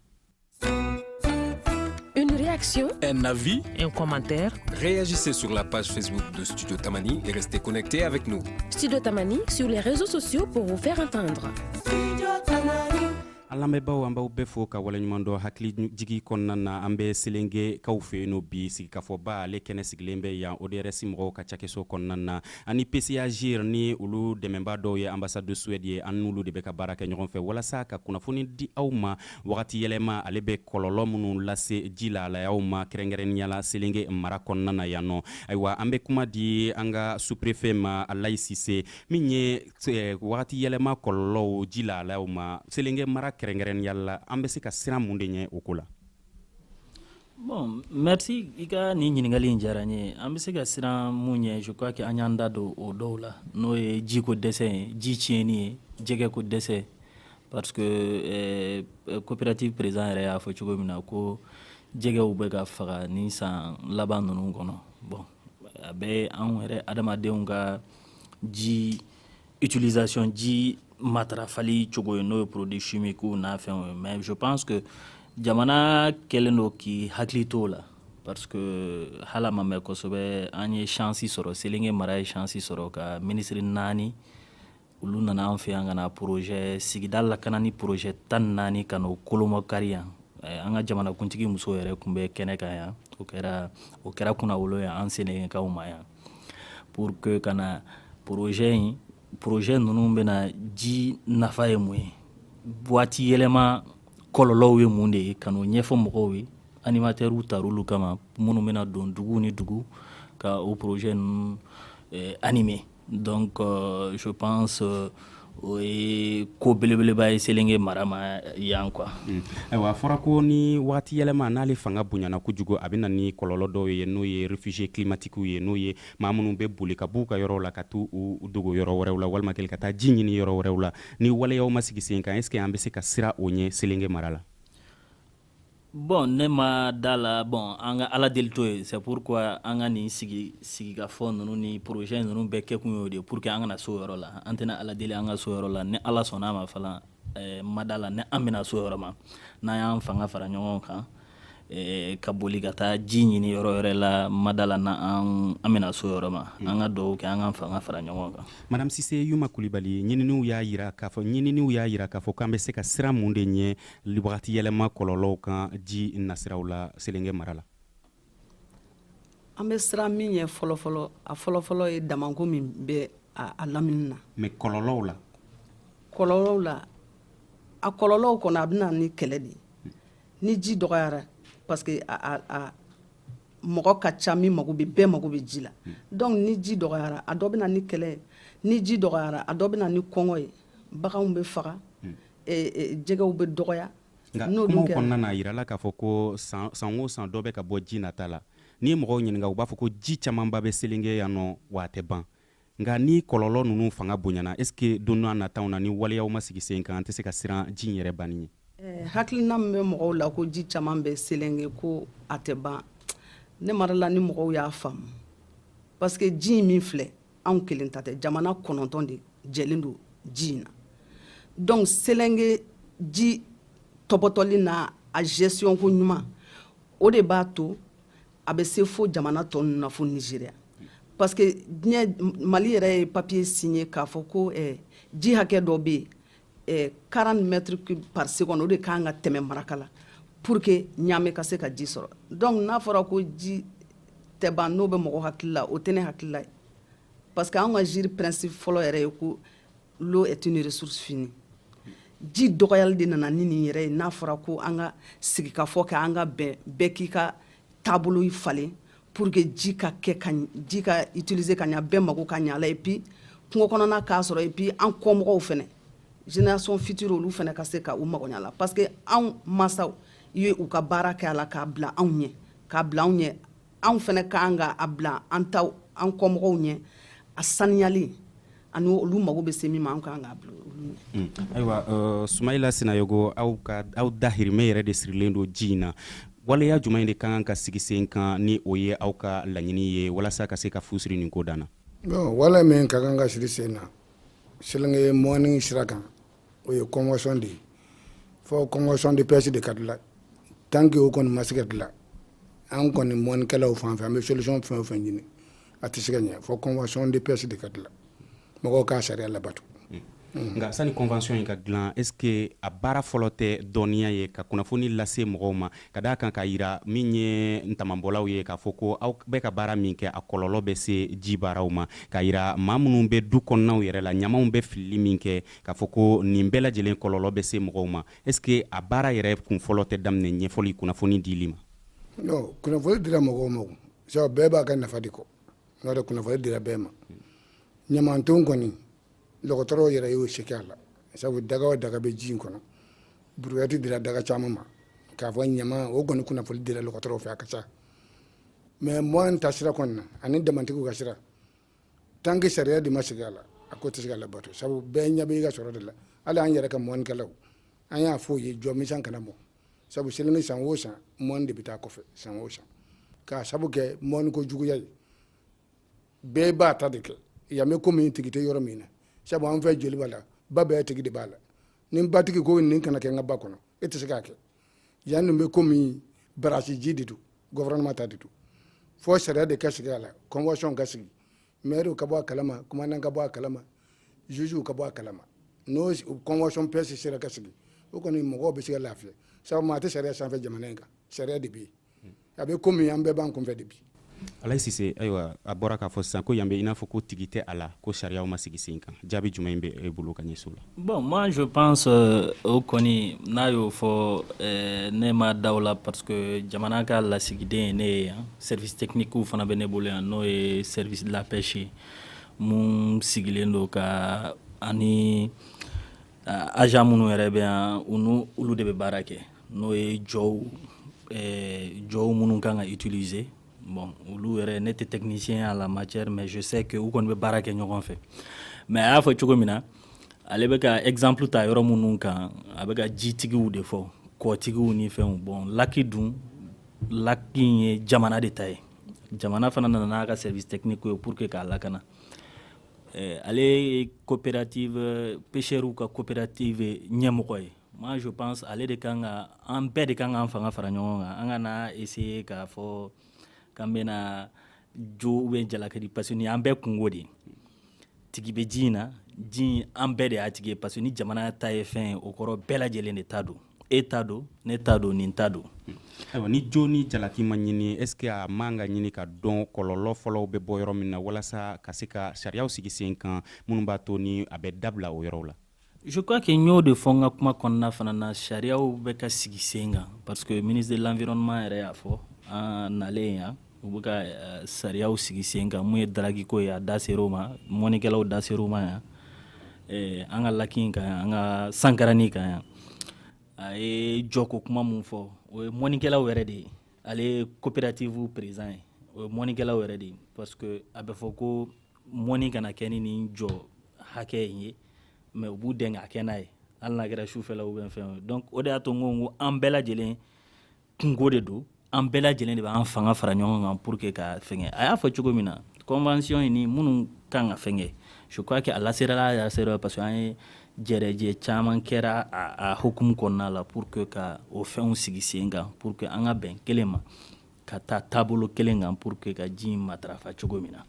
na v n kɔnmatɛ reyaji se sla pasiso tamani yɛrɛ se koɛ tɛ a bɛ sunjata tamani sur resoso su o fɛn ka tan dɔrɔn an lamɛnbaaw an b'aw bɛɛ fo ka waleɲumandɔn hakilijigi kɔnɔna na an bɛ selengekaw fɛ yennɔ bi sigikafɔba ale kɛnɛ sigilen bɛ yan ODRS mɔgɔw ka cakɛso kɔnɔna na ani PCA-GIRE ni olu dɛmɛnbaa dɔw ye ambassade de Suède ye an n'olu de bɛ ka baara kɛ ɲɔgɔn fɛ walasa ka kunnafoni di aw ma wagatiyɛlɛma ale bɛ kɔlɔlɔ minnu lase ji lahalayaw ma kɛrɛnkɛrɛnnenya la selenge mara kɔnɔna na yannɔ ayiwa an bɛ kuma di an ka sous-préfet ma alayi sise min ye eh, wagati yɛlɛma kɔlɔlɔw ji lahalayaw ma selenge mara kɛrɛnkɛrɛnnenya la an bɛ se ka siran mun de ɲɛ o ko la bon merci i ka nin ɲininkali in diyara n ye an bɛ se ka siran mun ɲɛ je crois que an y'an da don o dɔw la n'o ye jiko dɛsɛ ye ji tiɲɛni ye jɛgɛko dɛsɛ parce que eh, coopérative président yɛrɛ y'a fɔ cogo min na ko jɛgɛw bɛ ka faga ni san laban ninnu kɔnɔ bon a bɛ anw yɛrɛ adamadenw ka ji utilisation ji matarafali cogo ye n'o ye produit chimique n'a fɛnw ye mais je pense que jamana kɛlen don k'i hakili t'o la parce que hal'a ma mɛn kosɛbɛ an ye chance sɔrɔ selenge mara ye chance sɔrɔ ka ministre naani olu nana an fɛ yan ka na projet sigida lakanani projet tan ni naani ka n'o kolomakari yan eh, an ka jamanakuntigi muso yɛrɛ tun bɛ kɛnɛ kan yan o kɛra o kɛra kunnawolo ye an selengekaw ma yan pour que ka na projet in projet ninnu bɛna ji nafa ye mun ye waati yɛlɛma kɔlɔlɔw ye mun de ye ka n'o ɲɛfɔ mɔgɔw ye animatɛriw tar'olu kama minnu bɛna don dugu ni dugu ka o projet ninnu eh, animer donc euh, je pense euh, o ye ko belebeleba ye selenge mara ma yan quoi hmm. ayiwa a fɔra ko ni wagati yɛlɛma n'ale fanga bonyana kojugu a bɛna ni kɔlɔlɔ dɔw ye n'o ye refugiye kilimatikiw ye n'o ye maa minnu bɛ boli ka b'u ka yɔrɔw la ka t'u dogo yɔrɔ wɛrɛw la walima kɛli ka taa ji ɲini yɔrɔ wɛrɛw la ni waleyaw ma sigi sen kan est ce que an bɛ se ka siran o ɲɛ selenge mara la bon ne ma da la bon an ka ala deli t'o ye c'est pourquoi an ka nin sigi sigikafɔ ninnu ni projet ninnu bɛɛ kɛkun y'o de ye pour que an kana s'o yɔrɔ la an tɛna ala deli an ka s'o yɔrɔ la ni ala sɔnna ma fana eh, ma da la ni an bɛna s'o yɔrɔ ma n'an y'an fanga fara ɲɔgɔn kan eh, ka boli ka taa ji ɲini yɔrɔ wɛrɛ la ma da la n'an an bɛna s'o yɔrɔ ma an ka dɔw kɛ an ka fanga fara ɲɔgɔn kan madame sise yuma kulibali ɲininiw y'a yira k'a fɔ ɲininiw y'a yira k'a fɔ k'an bɛ se ka siran mun de ɲɛ wagati yɛlɛma kɔlɔlɔw kan ji nasiraw la selenge mara la an bɛ siran min ɲɛ fɔlɔfɔlɔ a fɔlɔfɔlɔ ye damanko min bɛ a lamini na mais kɔlɔlɔw la kɔlɔlɔw la a kɔlɔlɔw kɔnɔ a bɛna ni kɛlɛ de ye ni ji dɔgɔyara parce que a mɔgɔ ka ca min mago bɛ bɛɛ mago bɛ ji la hmm. donc ni ji dɔgɔyara a dɔ bɛna ni kɛlɛ ni ji dɔgɔyara a dɔ bɛna ni kɔngɔ ye baganw bɛ faga hmm. jɛgɛw bɛ dɔgɔya nka kumaw kɔnɔna na a yirala k'a fɔ ko san o san dɔ bɛ ka bɔ ji nata la n'i ye mɔgɔw ɲininka u b'a fɔ ko ji camanba bɛ selenge yan nɔ wa a tɛ ban nka ni kɔlɔlɔ ninnu fanga bonyana est ce que don nataw na ni waleyaw ma sigi sen kan an tɛ se ka siran ji in yɛrɛ banni ɲɛ hakilina min bɛ mɔgɔw la ko ji caman bɛ selenge ko a tɛ ban ne ma da la ni mɔgɔw y'a faamu parce que ji in min filɛ anw kelen ta tɛ jamana kɔnɔntɔn de jɛlen don ji in na donc selenge ji tɔpɔtɔli na a gestion ko ɲuman o de b'a to a bɛ se fo jamana tɔ ninnu na fo nigeria parce que diɲɛ mali yɛrɛ ye papier signé k'a fɔ ko eh, ji hakɛ dɔ bɛ yen eh, 40 mètres cubes par seconde o de ka kan ka tɛmɛ markala pour que niamey ka se ka ji sɔrɔ donc n'a fɔra ko ji tɛ ban n'o bɛ mɔgɔ hakili la o tɛ ne hakili la parce que anw ka gire principe fɔlɔ yɛrɛ ye ko l'eau est une ressource finie ji dɔgɔyali de nana ni nin yɛrɛ ye n'a fɔra ko an ka sigikafɔ kɛ an ka bɛn bɛɛ k'i ka taabolo falen pour que ji ka kɛ ka ji ka utiliser ka ɲa bɛɛ mago ka ɲa la et puis kungo kɔnɔna k'a sɔrɔ et puis an kɔmɔgɔw fɛnɛ génération future olu fɛnɛ ka se ka u mago ɲa la parce que anw masaw ye u ka baara kɛ a la k'a bila anw ɲɛ k'a bila anw ɲɛ anw fɛnɛ ka kan ka a bila an taw an kɔmɔgɔw ɲɛ a saniyali ani olu mago bɛ se min ma an kan k'a bila mm. ayiwa uh, sumayila sinayogo aw ka aw dahirimɛ yɛrɛ de sirilen don ji in na waleya jumɛn in de ka kan ka sigi sen kan ni o ye aw ka laɲini ye walasa ka se ka fu siri nin ko dan na wale min ka kan ka siri sen na selenge mɔni sira kan o ye convention de ye fo convention de pêche de ka dilan tant que o kɔni ma se ka dilan an kɔni mɔnikɛlaw fan fɛ an bɛ solution fɛn o fɛn ɲini a tɛ se ka ɲɛ fo convention de pêche de ka dilan mɔgɔw k'a sariya labato hmm. nka sani convention in ka dilan est ce que a baara fɔlɔ tɛ dɔnniya ye ka kunnafoni lase mɔgɔw ma ka d'a kan k'a yira min ye damanbɔlaw ye k'a fɔ ko aw bɛ ka baara min kɛ a kɔlɔlɔ bɛ se ji baaraw ma k'a yira maa minnu bɛ du kɔnɔnaw yɛrɛ la ɲamanw bɛ filili min kɛ k'a fɔ ko nin bɛɛ lajɛlen kɔlɔlɔ bɛ se mɔgɔw ma est ce que a baara yɛrɛ kun fɔlɔ tɛ daminɛ ɲɛfɔli kunnafoni dili ma non kunnafoni dira mɔgɔw ma sabu bɛɛ b'a ka nafa de kɔ n'o tɛ kunnafoni dira bɛɛ ma ɲamanton kɔni dɔgɔtɔrɔw yɛrɛ y'o se kɛ a la sabu daga o daga bɛ ji in kɔnɔ buruyati dira daga caman ma k'a fɔ ɲama o kɔni kunnafoni dira dɔgɔtɔrɔw fɛ a ka ca mais mɔni ta sira kɔni na ani damantigiw ka sira tant que sariya de ma sigi a la a ko tɛ se ka labato sabu bɛɛ ɲɛ bɛ i ka sɔrɔ de la hali an yɛrɛ ka mɔnikɛlaw an y'a fɔ o ye jɔ misan kana mɔ sabu selenge san o san mɔni de bɛ taa kɔfɛ san o san k'a sabu kɛ mɔniko juguya ye bɛɛ b'a ta de kɛ yan bɛ komi tigi tɛ yɔrɔ min na sabu an fɛ joliba la ba bɛɛ tigi de b'a la ni batigi ko nin kana kɛ n ka ba kɔnɔ e tɛ se k'a kɛ yan nin bɛ komi barasi ji de don gouvernement ta de don fo sariya de ka sigi a la convention ka sigi mɛriw ka bɔ a kalama commandant ka bɔ a kalama jugew ka bɔ a kalama n'o convention pêche sera ka sigi o kɔni mɔgɔw bɛ se ka lafiya sabu maa tɛ sariya sanfɛ jamana in kan sariya de bɛ yen a bɛ komi an bɛɛ b'an kunfɛ de bi alayi sise ayiwa a bɔra k'a fɔ sisan ko yan bɛ i n'a fɔ ko tigi tɛ a la ko sariyaw ma sigi sen kan jaabi jumɛn in bɛ e bolo ka ɲɛsin o la bon moi je pense euh, o kɔni n'a y'o fɔ euh, ne ma da o la parce que jamana ka lasigiden ye ne ye yan service techniquew fana bɛ ne bolo yan n'o ye service de la pêche ye mun sigilen don ka ani euh, agent minnu yɛrɛ bɛ yan u n'u olu de bɛ baara kɛ n'o ye jɔw eh, jɔw minnu kan ka utiliser bon olu yɛrɛ ne tɛ technicien à la matière mais je sais que u kɔni bɛ baara kɛ ɲɔgɔn fɛ mais a y'a fɔ cogo min na ale bɛ ka exemple ta yɔrɔ minnu kan a bɛ ka jitigiw de fɔ kɔtigiw ni fɛnw bon laki dun laki in ye jamana de ta ye jamana fana nana n'a ka service technique ye pour que k'a lakana eh, ale ye coopérative pêcheurs ka coopérative ɲɛmɔgɔ ye Moi je pense ale de kan ka an bɛɛ de kan k'an fanga fara ɲɔgɔn kan an kana essayer k'a fɔ k'an bɛna jo ou bien jalaki di parce que an bɛɛ kunko de tigi bɛ ji in na ji an bɛɛ de y'a tigi parce que ni jamana ta ye fɛn ye o kɔrɔ bɛɛ lajɛlen de ta don e ta don ne ta don nin ta don ayiwa ni jo ni jalaki ma ɲini est-ce que a man ka ɲini ka dɔn kɔlɔlɔ fɔlɔw bɛ bɔ yɔrɔ min na walasa ka se ka sariyaw sigi sen kan minnu b'a to ni a bɛ dabila o yɔrɔ la Je crois que n y'o de fɔ n ka kuma kɔnɔna fana na sariyaw bɛ ka sigi sen kan parce que ministre de l'environnement yɛrɛ y'a fɔ an nalen yan u bɛ ka euh, sariyaw sigi sen kan mun ye daragi ko ye a da ser'o ma mɔnikɛlaw da ser'o ma yan eh, an ka laki in kan yan an ka sankarani kan yan a ye jɔko kuma mun fɔ o ye mɔnikɛlaw yɛrɛ de ye ale ye coopérative président ye o ye mɔnikɛlaw yɛrɛ de ye parce que a bɛ fɔ ko mɔni kana kɛ ni nin jɔ hakɛ in ye mais u b'u dɛn ka kɛ n'a ye hali n'a kɛra sufɛla ou bien fɛn donc o de y'a to n ko ko an bɛɛ lajɛlen kunko de don an bɛɛ lajɛlen de b'an fanga fara ɲɔgɔn kan pour que ka fɛngɛ a y'a fɔ cogo min na convention in ni minnu kan ka fɛngɛ je crois que a laserala a laserala parce que an ye jɛrɛjɛ caman kɛra a, a hukumu kɔnɔna la pour que ka o fɛnw sigi sen kan pour que an ka bɛn kelen ma ka taa taabolo kelen kan pour que ka ji in matarafa cogo min na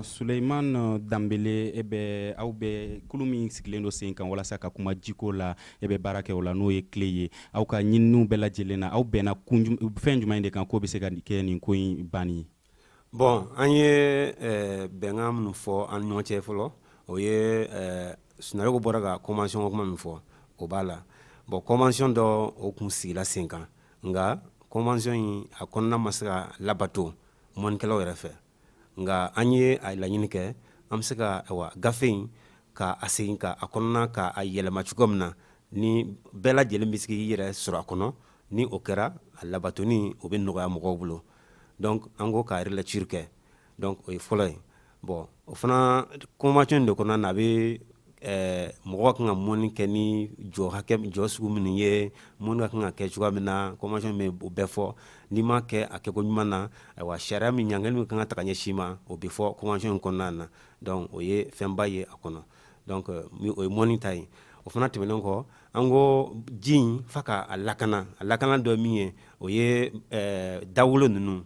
Suleiman Danbele e bɛ aw bɛ kulu min sigilen don sen kan walasa ka kuma jiko la e bɛ baara kɛ o la n'o ye CLE ye aw ka ɲininiw bɛɛ lajɛlen na aw bɛnna fɛn jumɛn de kan k'o bɛ se ka kɛ nin ko in banni ye bon an ye eh, bɛnkan minnu fɔ an ɲɔgɔn cɛ fɔlɔ o ye eh, Sinayoko bɔra ka convention kuma min fɔ o b'a la bon convention dɔ o kun sigila sen kan nka convention in a kɔnɔna ma se ka labato mɔnikɛlaw yɛrɛ fɛ nka an ye a laɲini kɛ an bɛ se ka wa gafe in ka a segin ka a kɔnɔna ka a yɛlɛma cogo min na ni bɛɛ lajɛlen bɛ se k'i yɛrɛ sɔrɔ a kɔnɔ ni o kɛra a labatoni o bɛ nɔgɔya mɔgɔw bolo donc an ko ka relecture kɛ donc o ye fɔlɔ ye bon o fana convention de kɔnɔna na a bɛ eh, mɔgɔ kan ka mɔni kɛ ni jɔ hakɛ jɔ sugu minnu ye mɔni ka kan ka kɛ cogoya min na convention bɛ o bɛɛ fɔ n'i m'a kɛ a kɛko ɲuman na ayiwa sariya min ɲangili min kan ka ta ka ɲɛsin i ma o bɛ fɔ convention in kɔnɔna na donc o ye fɛnba ye a kɔnɔ donc euh, o ye mɔni ta ye o fana tɛmɛnen kɔ an ko ji in fa ka a lakana a lakana dɔ min ye o ye eh, dawolo ninnu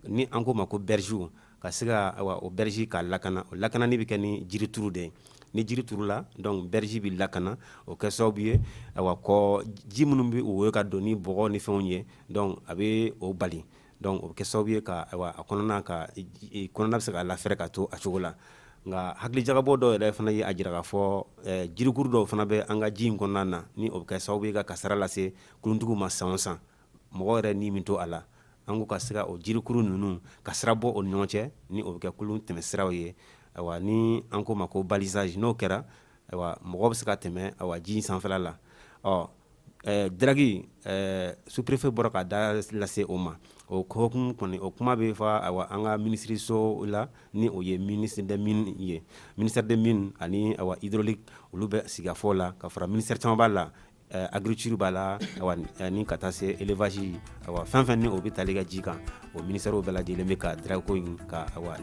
ni an k'o ma ko bergew ka se ka awa o berge ka lakana o lakanani bɛ kɛ ni jirituru de ye ni jiri turula donc berge bɛ lakana o kɛ sababu ye awa kɔ ji minnu bɛ woyo ka don ni bɔgɔ ni fɛnw ye donc a bɛ o bali Donc o bɛ kɛ sababu ye ka ayiwa a kɔnɔna ka kɔnɔna bɛ se ka lafɛrɛ ka to a cogo la nka hakilijagabɔ dɔw yɛrɛ fana ye a jira k'a fɔ jirikuru dɔw fana bɛ an ka ji in kɔnɔna na ni o bɛ kɛ sababu ye ka kasara lase kuluntigiw ma san o san mɔgɔ yɛrɛ ni min to a la an k'u ka se ka o jirikuru ninnu ka sira bɔ o ni ɲɔgɔn cɛ ni o bɛ kɛ kulun tɛmɛ siraw ye ayiwa ni an k'o ma ko balisage n'o kɛra ayiwa mɔgɔ bɛ se ka tɛmɛ ayiwa ji in sanfɛla la ɔ Ɛɛ dragi sous-préfet bɔra ka da lase o ma o ko kɔni o kuma bɛ fɔ an ka minisiriso la ni o ye ministre des mines ye ministère des mines ani hydraulique olu bɛ sigafɔ la ka fara ministère caman b'a la agriculture b'a la ni ka taa se élevage fɛn fɛn ni o bɛ tali kɛ ji kan o ministèrew bɛɛ lajɛlen bɛ ka dragi ko in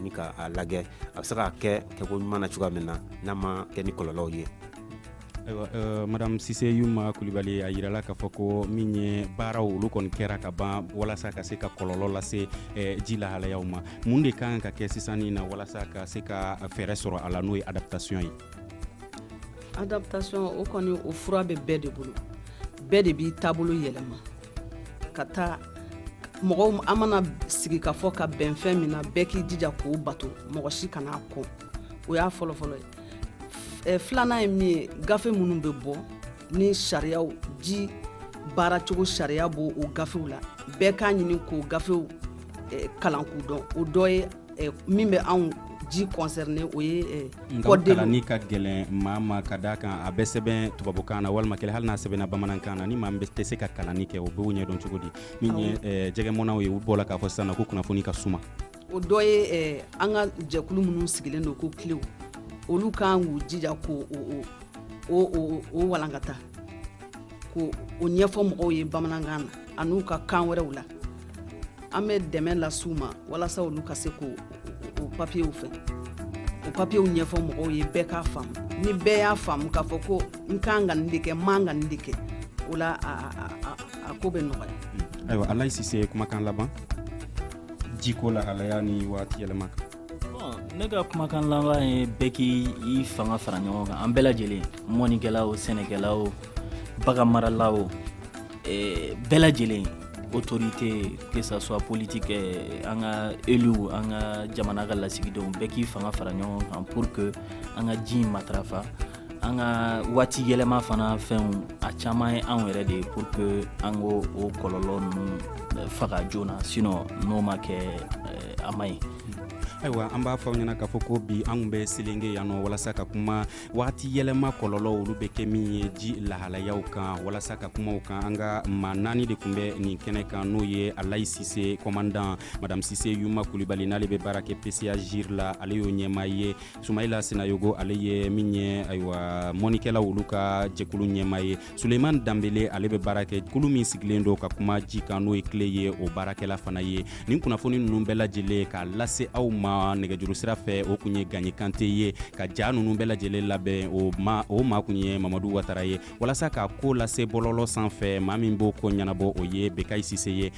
ni k'a lajɛ a bɛ se ka kɛ kɛko ɲuman na cogoya min na n'a ma kɛ ni kɔlɔlɔw ye ayiwa euh, madame sise yuma kulibali a yirala k'a fɔ ko min ye baaraw olu kɔni kɛra ka ban walasa ka se ka kɔlɔlɔ lase eh, ji lahalayaw ma mun de kan ka kɛ sisan ni na walasa ka se ka fɛɛrɛ sɔrɔ a la n'o ye adaptation ye adaptation o kɔni o fura bɛ bɛɛ de bolo bɛɛ de b'i taabolo yɛlɛma ka taa mɔgɔw an mana sigi ka fɔ ka bɛn fɛn min na bɛɛ k'i jija k'o bato mɔgɔ si kan'a kɔn o y'a fɔlɔfɔlɔ ye filanan ye min ye gafe minnu bɛ bɔ ni sariya ji baaracogo sariya b'o gafew la bɛɛ k'a ɲini k'o gafew kalan k'u dɔn o dɔ ye min bɛ anw ji concerné o ye code de l'eau kalanni ka gɛlɛn maa ma ka d'a kan a bɛ sɛbɛn tubabukan na walima kelen hali n'a sɛbɛnna bamanankan na ni maa min tɛ se ka kalanni kɛ o b'o ɲɛdɔn cogo di min ye jɛgɛmɔnnaw ye u bɔla k'a fɔ sisan ko kunnafoni ka suma o dɔ ye an ka jɛkulu minnu sigilen don ko kilew olu kan k'u jija k'o walankata k'o ɲɛfɔ mɔgɔw ye bamanankan na an'u ka kan wɛrɛw la an bɛ dɛmɛ las'u ma walasa olu ka se k'o papiyew fɛ o papiyew ɲɛfɔ mɔgɔw ye bɛɛ k'a faamu ni bɛɛ y'a faamu k'a fɔ ko n kan ka nin de kɛ n man ka nin de kɛ o la a ko bɛ nɔgɔya ayiwa alayi sise kumakan laban jiko lahalaya ni waati yɛlɛma kan ne ka kumakan laban ye bɛɛ k'i fanga fara ɲɔgɔn kan an bɛɛ lajɛlen mɔnnikɛla o sɛnɛkɛla o baganmarala o eh, bɛɛ lajɛlen autorité que ça soit politique eh, an ka élu an ka jamana ka lasigidenw bɛɛ k'i fanga fara ɲɔgɔn kan pour que an ka ji in matarafa an ka waati yɛlɛma fana fɛnw a caman ye anw yɛrɛ de ye pour que an k'o kɔlɔlɔ ninnu eh, faga joona sinɔ n'o ma kɛ eh, a man ɲi ayiwa an b'a fɔ aw ɲɛna k'a fɔ ko bi an kun bɛ selenge yan nɔ walasa ka kuma wagati yɛlɛma kɔlɔlɔ olu bɛ kɛ min ye ji lahalayaw kan walasa ka kuma o kan an ka maa naani de kun bɛ nin kɛnɛ kan n'o ye alayi sise kɔmandan madame sise yuma kulibali n'ale bɛ baara kɛ pca gire la ale y'o ɲɛmaa ye sumayila sinayogo ale ye min ye ayiwa mɔnnikɛlaw olu ka jɛkulu ɲɛmaa ye suleiman danbele ale bɛ baara kɛ kulu min sigilen don ka kuma ji kan n'o ye cle ye o baarakɛla fana ye nin kunnafoni ninnu bɛɛ lajɛlen k'a lase aw ma nɛgɛjuru sira fɛ o kun ye gaɲi kante ye ka ja ninnu bɛɛ lajɛlen labɛn o ma o maa kun ye mamadu watara ye walasa k'a ko lase bɔlɔlɔ sanfɛ maa min b'o ko ɲɛnabɔ o ye bekayi sise ye